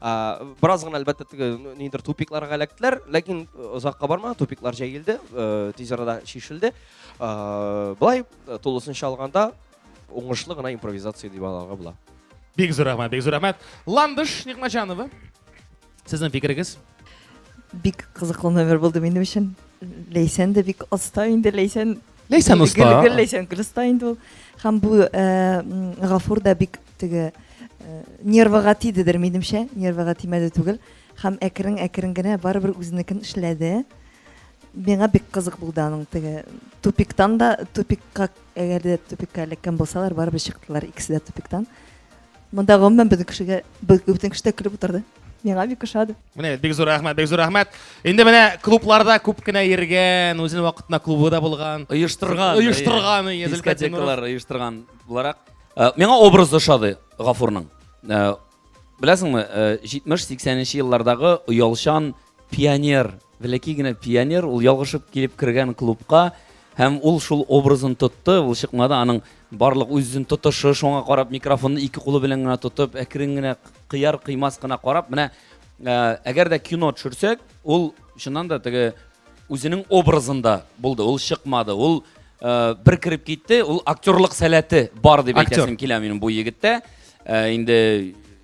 Бераз гына әлбәттә теге нидер тупикларга эләктеләр, ләкин озакка бармады, тупиклар җәелде, тиз арада чишелде. Былай тулысынча алганда уңышлы гына импровизация дип аларга була. Бик зур рәхмәт, бик зур рәхмәт. Ландыш Никмаҗанова. Сезнең фикерегез? Бик кызыклы номер булды минем өчен. Ләйсән дә бик оста инде, Ләйсән Ләйсән оста. Гел, гел Ләйсән гел оста инде ул. Һәм бу э, Гафур да бик теге э, нервыга тидедер, минемчә, нервыга тимәде түгел. Һәм әкрен әкрен генә барыбер үзенекен эшләде. Миңа бик кызык булды аның теге тупиктан да тупикка әгәр дә тупикка эләккән булсалар, барыбер чыктылар икесе дә тупиктан. Монда гомумән безнең кешегә бөтен кеше дә көлеп утырды. Миңа бик ошады. Менә бик зур рәхмәт, бик зур рәхмәт. Инде менә клубларда күп кенә йөргән, үзенең вакытында клубы да булган. Оештырган. Оештырган, иә, Зөлкәт Динуров. оештырган буларак. Э, миңа образ ошады Гафурның. Э, Беләсеңме, 70-80 э, еллардагы оялчан Пионер, бәләкәй генә пионер, ул ялгышып килеп кергән клубка һәм ул шул образын тотты, ул чыкмады, аның барлык үзен тотышы, шуңа карап микрофонны ике кулы белән генә тотып, әкрен генә кыяр кыймас кына карап, менә э, әгәр дә кино төшерсәк, ул чыннан да теге үзенең образында булды, ул чыкмады, ул э, бер кереп китте, ул актерлык сәләте бар дип Актер. әйтәсем килә минем бу егеттә. Э, инде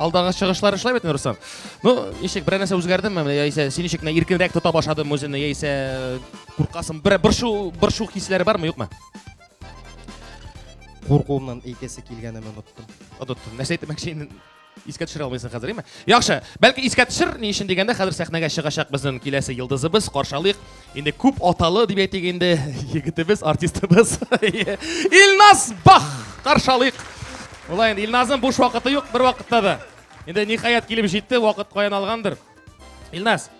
Алдагы чыгышлар эшләп бит, Руслан. Ну, ничек берәр нәрсә үзгәрдеме? Яисә син ничек кенә иркенрәк тота башладым үзеңне, яисә э, куркасың? Бер боршу, боршу хисләре бармы, юкмы? Куркуымнан әйтәсе килгәнен оныттым. Оныттым. Нәрсә әйтмәкче инде? Искә төшерә алмыйсың хәзер, әйме? Яхшы. Бәлки искә төшер, ни өчен дигәндә, хәзер сәхнәгә чыгачак безнең киләсе йолдызыбыз, каршалыйк. Инде күп аталы дип әйтик инде егетебез, артистыбыз Илназ Бах! Каршы алыйк. Болай инде Илназның буш вакыты юк бер вакытта да. Инде ниһаять килеп җитте, вакыт каян алгандыр. Илназ,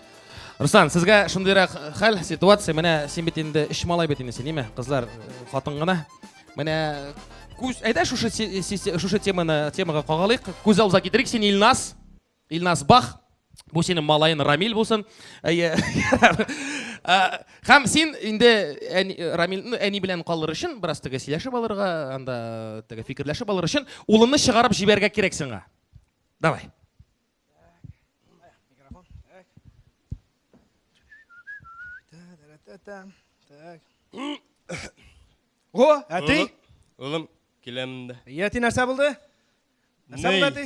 Руслан, сезгә шундыйрак хәл, ситуация, менә син бит инде эш малай бит инде син, ниме? Кызлар, хатын гына. Менә күз, әйдә шушы шушы теманы темага кагалыйк. Күз алдына китерик син Илназ. Илназ Бах, бу синең малаен Рамиль булсын. Әйе. Хәм син инде Рамиль ну әни белән калыр өчен бераз тәгә сөйләшеп алырга, анда тәгә фикерләшеп алыр өчен улымны чыгарып җибәргә кирәк сиңа. Давай. О, әти. Улым, киләм дә. Әти нәрсә булды? Нәрсә булды әти?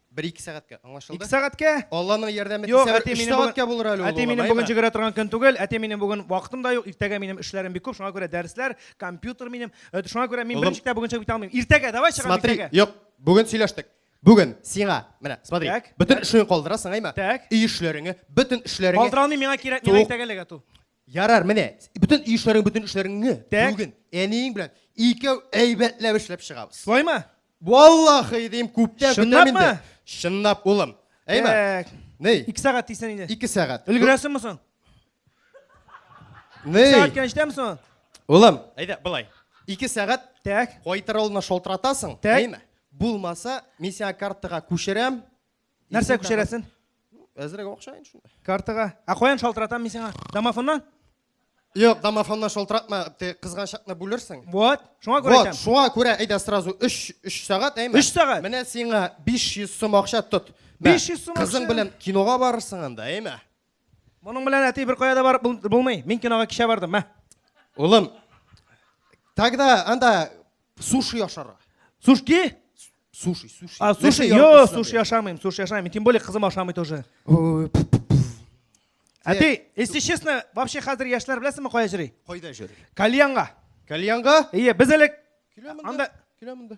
Бер-ике сәгатькә, аңлашылды? Ике сәгатькә? Алланың ярдәме Юк, тисә бер әти, өч минем сәгатькә булыр әле ул. Әти, минем бүген җигерә торган көн түгел. Әти, минем бүген вакытым да юк. Иртәгә минем эшләрем бик күп, шуңа күрә дәресләр, компьютер минем. Э, шуңа күрә мин берничек тә бүгенчә бит алмыйм. Иртәгә, давай чыгам Смотри, иртәгә. юк, бүген сөйләштек. Бүген сиңа, менә, смотри, Так, бөтен так. эшеңне калдырасың, әйме? Так. Өй эшләреңне, бөтен эшләреңне. Калдыра алмыйм, миңа кирәк, миңа Тук. иртәгә эләгә ту. Ярар, менә, бөтен өй эшләрең, бөтен эшләреңне Так. бүген әниең белән икәү әйбәтләп эшләп чыгабыз. Шулаймы? Валлахи дим, күптән көтәм Чынлапмы? инде. Чынлап, улым. Әйме? Так. Ней, Ике сәгать дисән инде. ике сәгать. Өлгерәсеңме соң? Ней, Сәгать кенә җитәме соң? улым, әйдә, былай. Ике сәгать Так. кайтыр алдына шалтыратасың, Так. әйме? Булмаса, мин сиңа картага күчерәм, нәрсә күчерәсен әзрәк акча инде шунда картага ә каян шалтыратам мин сиңа домофоннан Юк, домофонна шалтыратма, ти кызган чакны бүлерсең. Вот, шуңа күрә әйтәм. Вот, шуңа күрә әйдә сразу 3 3 сәгать, әйме? 3 сәгать. Менә сиңа 500 сум акча тот. 500 сум акча. Кызың белән кинога барырсың анда, әйме? Моның белән әти бер кая да барып булмый. Мин кинога кичә бардым, мә. Улым, тогда анда суши ашарга. Сушки? Суши, суши. А, суши, йо, суши ашамыйм, суши ашамыйм. Тем более кызым ашамый тоже. Ә ты, если честно, вообще хәзер яшьләр беләсеңме кая йөри? Кайда йөри? Кальянга. Кальянга? Ие, без элек анда Киләм монда.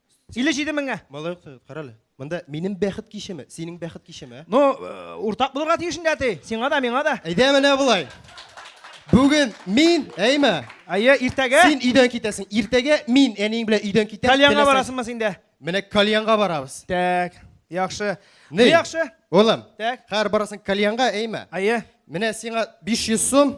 Илле җиде меңгә. Малай укты, карале. Монда минем бәхет кичеме, синең бәхет кичеме? Ну, э, уртак булырга тиеш инде әти. Сиңа да, миңа да. Әйдә менә болай. Бүген мин, әйме? Әйе, иртәгә. Син өйдән китәсең. Иртәгә мин әниең белән өйдән китәм. Кальянга барасыңмы син дә? Менә кальянга барабыз. Так, яхшы. Не яхшы? Улым. Так. Хәр барасың кальянга, әйме? Әйе. Менә сиңа 500 сум.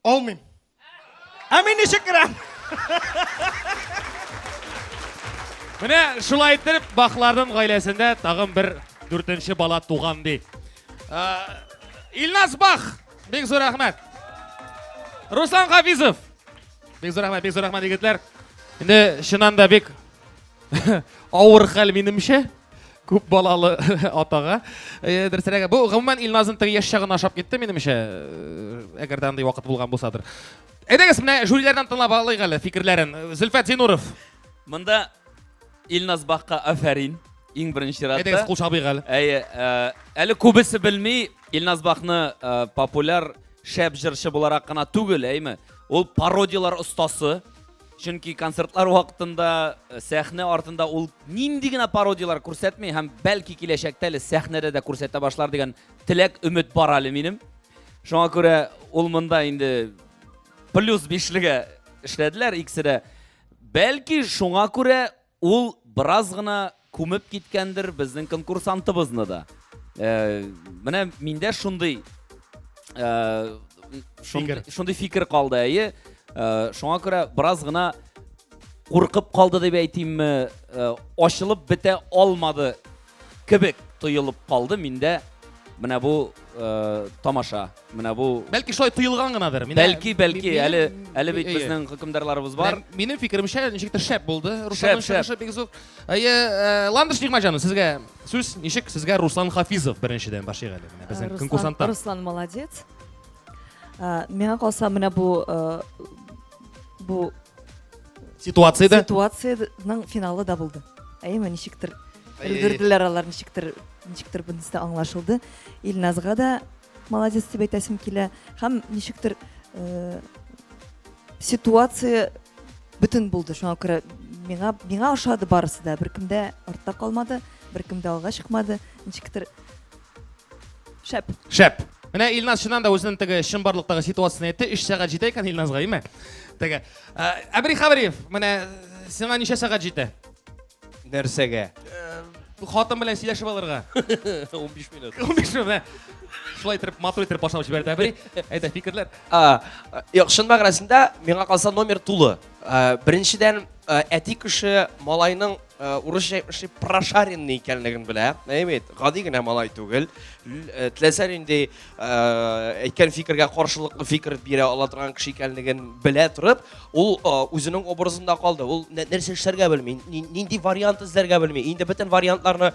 Алмыйм. Ә мин ничек керәм? Менә шулай иттереп Бахларның гаиләсендә тагын бер дүртенче бала туган ди. Илназ Бах, бик зур рәхмәт. Руслан Хафизов. Бик зур рәхмәт, бик зур рәхмәт, егетләр. Инде чыннан да бик Авыр хәл минемчә. Күп балалы атага. Э, Дөресрәге, бу гомумән Илназның теге яшь чагын ашап китте минемчә. Э, әгәр дә андый вакыт булган булсадыр. Әйдәгез, менә жюриләрдән тыңлап алыйк әле фикерләрен. Зөлфәт Зинуров. Монда Илназ Бакка афәрин. Иң беренче рәттә. Әйдәгез, кул чабыйк әле. Әйе, э, әле күбесе белми Илназ Бакны популяр шәп җырчы буларак кына түгел, әйме? Ул пародиялар остасы. Чөнки концертлар вакытында э, сәхнә артында ул нинди генә пародияләр күрсәтми һәм бәлки киләчәктә әле сәхнәдә дә күрсәтә башлар дигән теләк, өмет бар әле минем. Шуңа күрә ул монда инде плюс бишлегә эшләделәр икесе дә. Бәлки шуңа күрә Ул бераз гына күмеп киткәндер безнең конкурсантыбызны да. Э, менә миндә шундый э, шундый, шундый фикер калды, әйе. Э, шуңа күрә бераз гына куркып калды дип әйтимме, э, ачылып бетә алмады Кебек тоелып калды миндә менә бу э, тамаша, менә бу Бәлки шулай тоелган гынадыр. Менә- Бәлки, бәлки, Минем- әле әле бит Әйе. безнең хөкемдарларыбыз бар. Менә Минем фикеремчә, ничектер шәп булды. Русланның шәп. чыгышы бик зур. Әйе, э, Ландыш Нигмаҗан, сезгә сүз ничек? Сезгә Руслан Хафизов беренчедән башлыйк әле. Менә безнең Руслан- конкурсанттан. Руслан молодец. Ә, Миңа калса, менә бу э, бу ситуацияда ситуациянең финалы да булды әйеме ничектер өлгерделәр алар ничектер ничектер бунысы да аңлашылды илназга да молодец дип әйтәсем килә һәм ничектер э, ситуация бөтен булды шуңа күрә миңа миңа ошады барысы да беркемдә артта калмады беркемдә алга чыкмады ничектер Шәп. Шәп. Менә Илназ чыннан да үзенең теге чынбарлыктагы ситуациясен әйтте. 3 сәгать җитә икән Илназга, име? Теге. Әбри Хабриев, менә сиңа ничә сәгать җитә? Нәрсәгә? Хатын белән сөйләшеп алырга. 15 минут. 15 минут. Шулай итеп, матур итеп башлап җибәрде Әбри. Әйдә, фикерләр. А, юк, чын мәгънәсендә миңа калса номер тулы. Беренчедән, әти кеше малайның урысча әйтмешли прошаренный икәнлеген белә. Әйе бит, гади генә малай түгел. Теләсә нинди әйткән фикергә каршылыклы фикер бирә ала торган кеше икәнлеген белә торып, ул үзенең образында калды. Ул нәрсә эшләргә белми, нинди вариант эзләргә белми. Инде бөтен вариантларны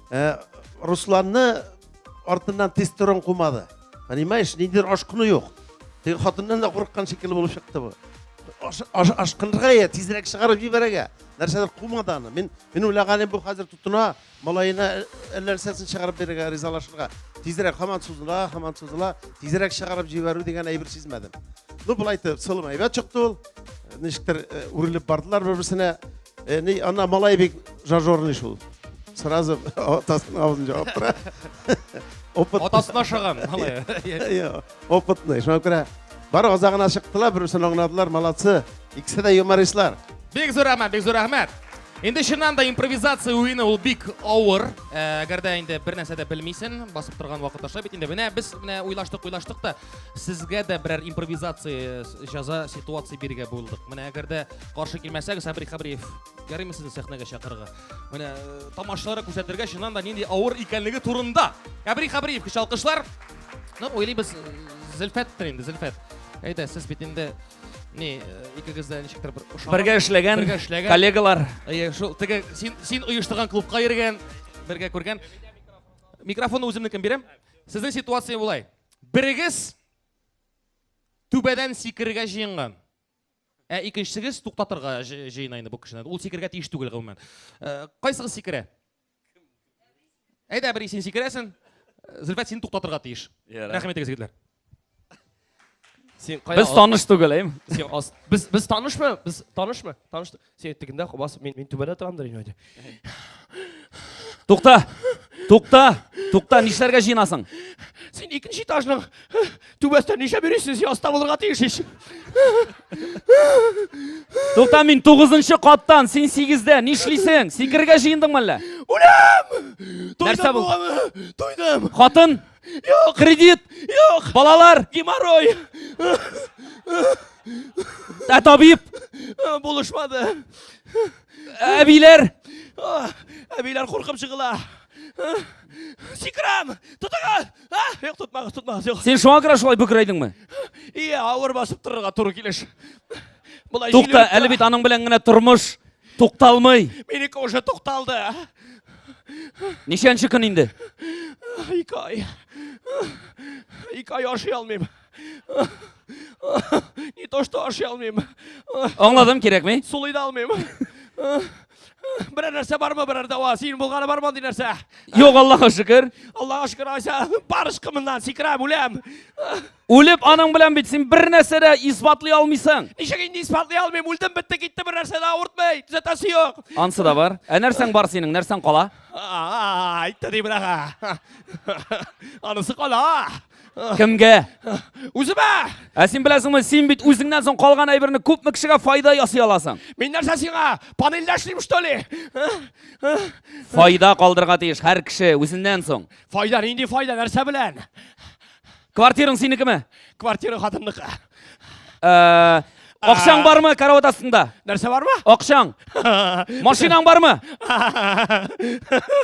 Ә, Русланны артыннан тестостерон кумады. Понимаешь, ниндидер ашкыну юк. Теге хатыннан да курыккан шикелле булып чыкты бу. Аш- аш- Ашкынырга я, тизрәк чыгарып җибәрергә. Нәрсәдер кумады аны. Мин мин уйлаганым бу хәзер тотына, малаена әллә нәрсәсен чыгарып бирергә, ризалашырга. Тизрәк һаман сузыла, һаман сузыла, тизрәк чыгарып җибәрү дигән әйбер сизмәдем. Ну, болай итеп, сылым әйбәт чыкты ул. Ничектер э, үрелеп бардылар бер-берсенә. Э, не, ана малай бик жажорный шул. Сразу атасының аузын жауып тора. Опыт. Атасына шыган малай. Иә, опытный. Шуңа күрә бар азагына чыктылар, берсен аңладылар, молодцы. Икесе дә юмористлар. Бик зур рәхмәт, бик зур рәхмәт. Инде чыннан да импровизация уены ул бик авыр. Э, әгәр дә инде бер нәрсә дә белмисен, басып торган вакыт аша бит инде. Менә без менә уйлаштык, уйлаштык та сезгә дә берәр импровизация җаза ситуация бирергә булдык. Менә әгәр дә Каршы килмәсәгез, Сабри Хабриев, ярыймы сезне сәхнәгә чакырырга? Менә э, тамашалары күрсәтергә чыннан да нинди авыр икәнлеге турында. Сабри Хабриев кеше алкышлар. Ну, уйлыйбыз, э, Зөлфәттер инде, Зөлфәт. Әйдә, сез бит инде не, э, икегез дә ничектер бер ошаган. Бергә эшләгән, бергә эшләгән. коллегалар. Әйе, шул теге син син оештырган клубка йөргән, бергә күргән. Микрофонны үземнекен бирәм. Сезнең ситуация булай. Берегез түбәдән сикерергә җыенган. Ә икенчесегез туктатырга җыена инде бу кешене. Ул сикергә тиеш түгел гомумән. Э, кайсыгыз сикерә? Әйдә, бер син сикерәсең. Зөлфәт син туктатырга тиеш. Рәхмәт егез егетләр. Син кая? Без таныш түгел, әйме? Син аз. Без без танышмы? Без танышмы? Таныштык. Сен әйттегендә бас мин мин түбәдә торамдыр инде әйде. Тукта! Тукта! Тукта, нишләргә җыенасың? Син икенче этажның түбәсендә нишләп йөрисең? Син аста булырга тиеш ич. Тукта, мин 9 каттан, син 8дә. Нишлисең? Сикергә җыендыңмы әллә? Үләм! Нәрсә бу? Туйдым. Хатын, Юк, кредит, юк, балалар, геморрой. Ә табиб булышмады. Әбиләр, әбиләр куркып чыгыла. Сикрам, тотыгыз! Юк, тотмагыз, тотмагыз, юк. Син шуңа күрә шулай бөкрәйдеңме? Ие, авыр басып торырга туры килеш. Тукта, әле бит аның белән генә тормыш Тукталмый. Минеке уже тукталды. Ничәнче көн инде? Ике ай. Ике ай ашый алмыйм. Не то что ашый алмыйм. Аңладым, кирәкми? Сулый да алмыйм. Берәр нәрсә бармы, берәр дәва? Син булганы бар мондый нәрсә? Юк, Аллаһка шөкер. Аллаһка шөкер, Айса, барышкы моннан сикерәм, үләм. Үлеп аның белән бит син бер нәрсә дә исбатлый алмыйсың. Ничек инде исбатлый алмыйм? Үлдем, бетте, китте, бер нәрсә дә авыртмый. Төзәтәсе юк. Ансы да бар. Ә нәрсәң бар синең? Нәрсәң кала? Әйтте ди бирәгә. Анысы кала. Кемгә? Үземә. Ә син беләсеңме, син бит үзеңнән соң калган әйберне күпме кешегә файда ясый аласың. Мин нәрсә сиңа? Панельдә эшлим, что ли? Файда калдырга тиеш һәр кеше үзеннән соң. Файда нинди файда? Нәрсә белән? Квартираң синекеме? Квартира хатынныкы. Э, Акчаң бармы карават астында? Нәрсә бармы? Акчаң. Машинаң бармы?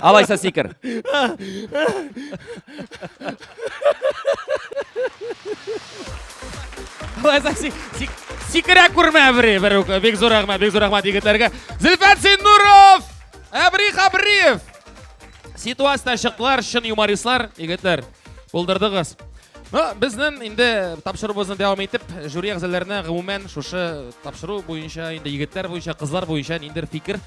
Алайса сикер. Алайса сикер. Сикерә күрмә бери, бер үк. Бик зур рәхмәт, бик зур рәхмәт егетләргә. Зилфәт Синнуров! Әбри Хабриев! Ситуация чыктылар, чын юмористлар, егетләр. Булдырдыгыз. Ну, безнең инде тапшыруыбызны дәвам итеп, жюри әгъзаларына гомумән шушы тапшыру буенча, инде егетләр буенча, кызлар буенча ниндер фикер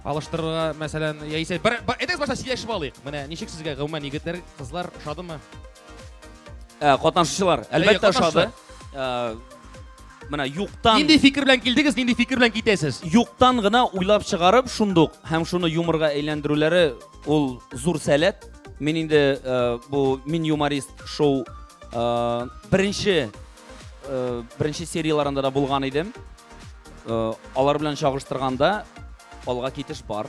алыштырырга, мәсәлән, яисә бер әйтегез башлап сөйләшеп алыйк. Менә ничек сезгә гомумән егетләр, кызлар шадымы? Ә, катнашучылар, әлбәттә, шады. Ә, менә юктан Нинди фикер белән килдегез, нинди фикер белән китәсез? Юктан гына уйлап чыгарып шундук һәм шуны юморга әйләндерүләре ул зур сәләт. Мин инде э, бу мин юморист шоу э, беренче э, беренче серияларында да булган идем. Э, алар белән чагыштырганда алга китеш бар.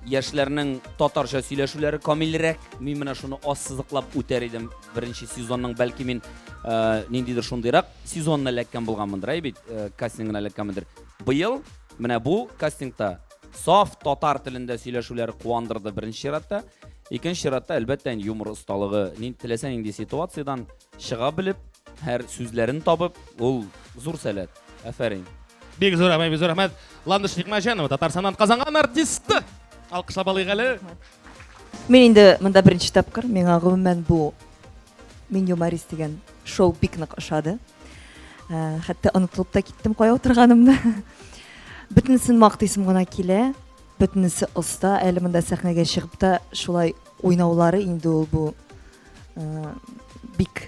Яшьләрнең татарча сөйләшүләре камилрәк. Мин менә шуны ассызыклап үтәр идем. Беренче сезонның бәлки мин э, ниндидер шундыйрак сезонны эләккән булганмындыр, әй бит, э, кастингына эләккәнмендер. Быел менә бу кастингта Саф татар телендә сөйләшүләр куандырды беренче чиратта. Икенче чиратта, әлбәттә, юмор осталыгы. Нин теләсә нинди ситуациядән чыга белеп, һәр сүзләрен табып, ул зур сәләт. Афәрин. Бик зур рәхмәт, бик зур рәхмәт. Ландыш Никмәҗанова, Татарстаннан Казанга артисты. Алкышлап алыйк әле. Рәхмәт. Мин инде монда беренче тапкыр, миңа гомумән бу Мин юморист дигән шоу бик нык ошады. Э, хәтта онытылып та киттем кая утырганымны. Бөтенесен мактыйсым гына килә. Бөтенесе оста, әле монда сәхнәгә чыгып та шулай уйнаулары инде ул бу э, бик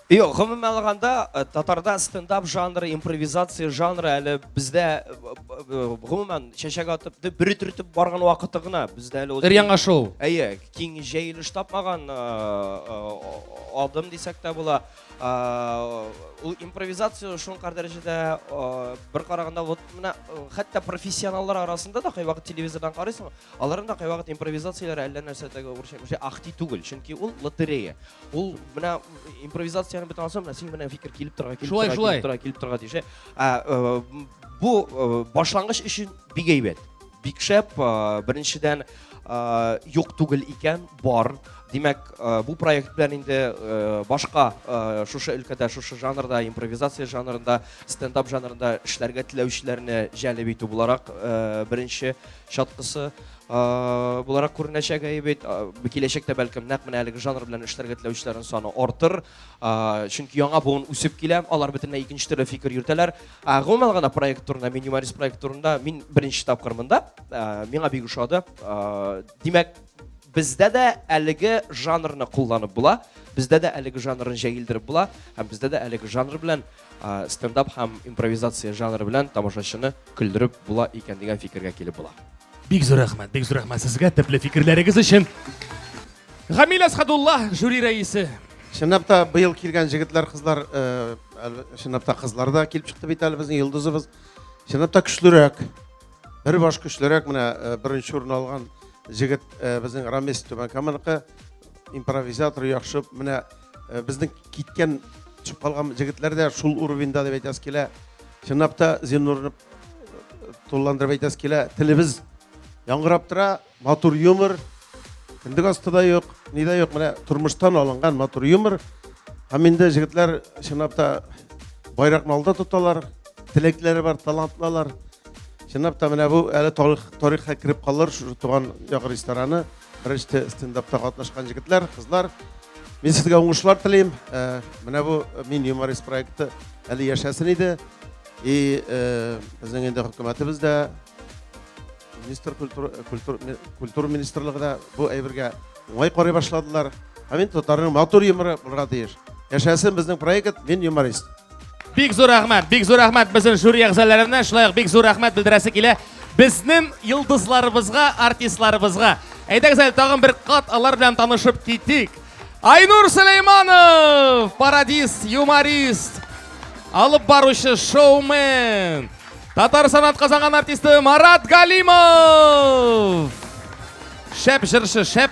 Юк, гомумән алганда, э, татарда стендап жанры, импровизация жанры әле бездә э, э, гомумән чәчәк атып, дип бер төртеп барган вакыты гына бездә әле Өр яңа шоу. Әйе, киң җәелеш тапмаган адым дисәк тә була. Ул импровизация шул кадәр дәрәҗәдә бер караганда вот менә хәтта профессионаллар арасында да кайвакыт телевизордан карыйсың, аларның да кайвакыт импровизацияләре әллә нәрсә тәгә үрчәк, ах түгел, чөнки ул лотерея. Ул менә импровизацияне бит ансам, син менә фикер килеп торга, килеп торга, килеп торга, килеп торга дише. Э, бу э, башлангыч өчен бик әйбәт. Бик шәп, э, беренчедән юк түгел икән, бар. Димәк, бу проект белән инде башка шушы өлкәдә, шушы жанрда, импровизация жанрында, стендап жанрында эшләргә теләүчеләрне җәлеп итү буларак беренче чаткысы. буларак күренәчәк әйе бит киләчәктә бәлкем нәкъ менә әлеге жанр белән эшләргә теләүчеләрнең саны артыр чөнки яңа буын үсеп килә алар бөтенләй икенче төрле фикер йөртәләр гомумән гына проект турында мин юморист проект турында мин беренче тапкыр монда миңа бик ошады димәк бездә дә әлеге жанрны кулланып була бездә дә әлеге жанрны җәелдереп була һәм бездә дә әлеге жанр белән Стендап һәм импровизация жанры белән тамашачыны көлдереп була икән дигән фикергә килеп була. Бик зур рәхмәт, бик зур рәхмәт сезгә төпле фикерләрегез өчен. Гамил Әсхадулла, жюри рәисе. Чынлап та быел килгән җегетләр, кызлар, э, чынлап та кызлар да килеп чыкты бит әле безнең йолдызыбыз. Чынлап та көчлерәк. Бер баш көчлерәк менә э, беренче урын алган җегет э, безнең Рамис Түбәнкаманыкы импровизатор яхшы менә Э, безнең киткән төшеп калган җегетләр дә шул уровеньда дип әйтәсе килә чынлап та зиннурны э, тулыландырып әйтәсе килә телебез яңгырап тора матур юмор кендек асты да юк ни дә юк менә тормыштан алынган матур юмор һәм инде җегетләр чынлап та байракны алда тоталар теләкләре бар талантлылар чынлап та менә бу әле тарих тарихка кереп калыр шушы туган як рестораны Беренче стендапта катнашкан җегетләр, кызлар, мин сезгә уңышлар телим. Э, менә бу э, мин юморист проекты әле яшәсен иде. И э, безнең инде хөкүмәтебез дә министр культура культур культура министрлыгы да бу әйбергә уңай карый башладылар. Һәм мин татарның матур юморы булырга тиеш. Яшәсен безнең проект, мин юморист. Бик зур рәхмәт, бик зур рәхмәт безнең жюри әгъзаларына, шулай ук бик зур рәхмәт белдерәсе килә безнең йолдызларыбызга, артистларыбызга. Әйдәгез әле тагын бер кат алар белән танышып китик. Айнур Сөләйманов, пародист, юморист, алып баручы шоумен. Татар санат казанган артисты Марат Галимов. Шәп жыршы, шәп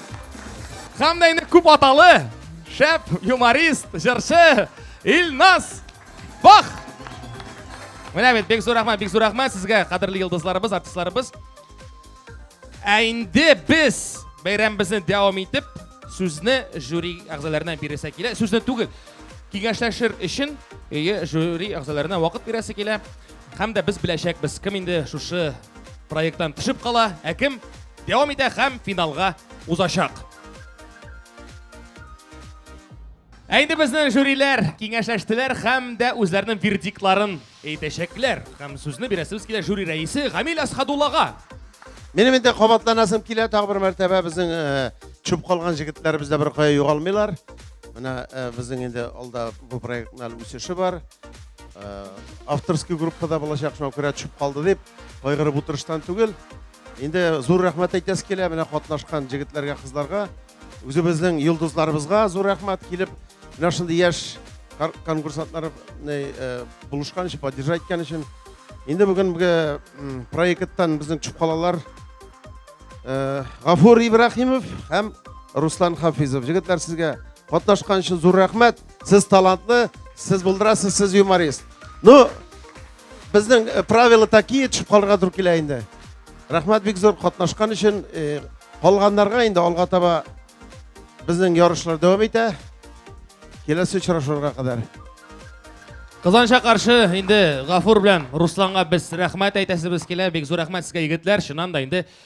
Һәм дә инде күп аталы, шәп юморист, җырчы Илназ Бах! Менә бит, бик зур рәхмәт, бик зур рәхмәт сезгә, кадерле йолдызларыбыз, артистларыбыз. Ә инде без бәйрәмебезне дәвам итеп, сүзне жюри әгъзаларына бирәсе килә. Сүзне түгел, киңәшләшер өчен ие жюри әгъзаларына вакыт бирәсе килә. Һәм дә без беләчәкбез, кем инде шушы проекттан төшеп кала, ә кем Дәвам итә һәм финалга узачак. Ә инде безнең жюриләр киңәшләштеләр һәм дә үзләренең вердиктларын әйтәчәкләр. Һәм сүзне бирәсебез килә жюри рәисе Гамил Асхадуллага. Минем инде кабатланасым килә тагы бер мәртәбә безнең э, чүп калган җегетләребез дә беркая югалмыйлар. Менә э, безнең инде алда бу проектның әле үсеше бар. Э, авторский группада булачак, шуңа күрә төшеп калды дип кайгырып утырыштан түгел. Инде зур рәхмәт әйтәсе килә менә катнашкан җегетләргә, кызларга. Үзебезнең йолдызларыбызга зур рәхмәт килеп, менә шундый яшь конкурсантлар э, булышкан өчен, поддержать иткән өчен. Инде бүгенге проекттан безнең төшеп калалар э, Гафур Ибрахимов һәм Руслан Хафизов. Җегетләр сезгә катнашкан өчен зур рәхмәт. Сез талантлы, сез булдырасыз, сез юморист. Ну, Безнең э, правила такие, төшеп калырга туры килә инде. Рәхмәт бик зур катнашкан өчен. Э, калганнарга инде алга таба безнең ярышлар дәвам итә. Киләсе очрашуга кадәр. Казанша каршы инде Гафур белән Русланга без рәхмәт әйтәсебез килә. Бик зур рәхмәт сезгә егетләр. Чыннан да инде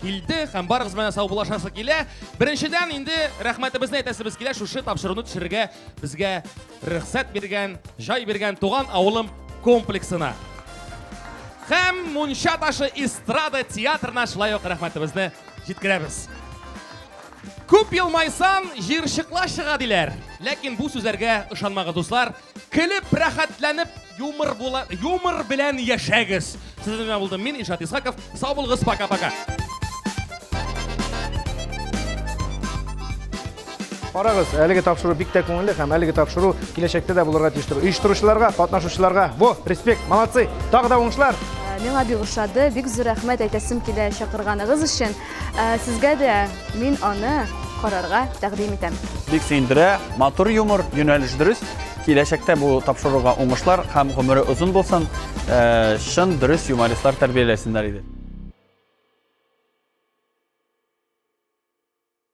килде һәм барыбыз белән саубуллашасы килә. Беренчедән инде рәхмәтебезне әйтәсебез килә шушы тапшыруны төшерергә безгә рөхсәт биргән, җай биргән туган авылым комплексына. Һәм Мунча ташы эстрада театрына шулай ук рәхмәтебезне җиткерәбез. Күп елмайсан, җирчыкла чыга диләр. Ләкин бу сүзләргә ышанмагыз, дуслар. Көлеп, рәхәтләнеп, юмор була, юмор белән яшәгез. Сезнең белән булдым мин, Ишат Исхаков. Сау булыгыз, пока-пока. Карагыз, әлеге тапшыру бик тә күңелле һәм әлеге тапшыру киләчәктә дә булырга тиештер. Оештыручыларга, катнашучыларга, во, респект, молодцы, тагы да уңышлар! Миңа бик ошады, бик зур рәхмәт әйтәсем килә чакырганыгыз өчен. Ә, Сезгә дә мин аны карарга тәкъдим итәм. Бик сөендерә, матур юмор, юнәлеш дөрес. Киләчәктә бу тапшыруга уңышлар һәм гомере озын булсын. Э, Чын дөрес юмористлар тәрбияләсеннәр иде.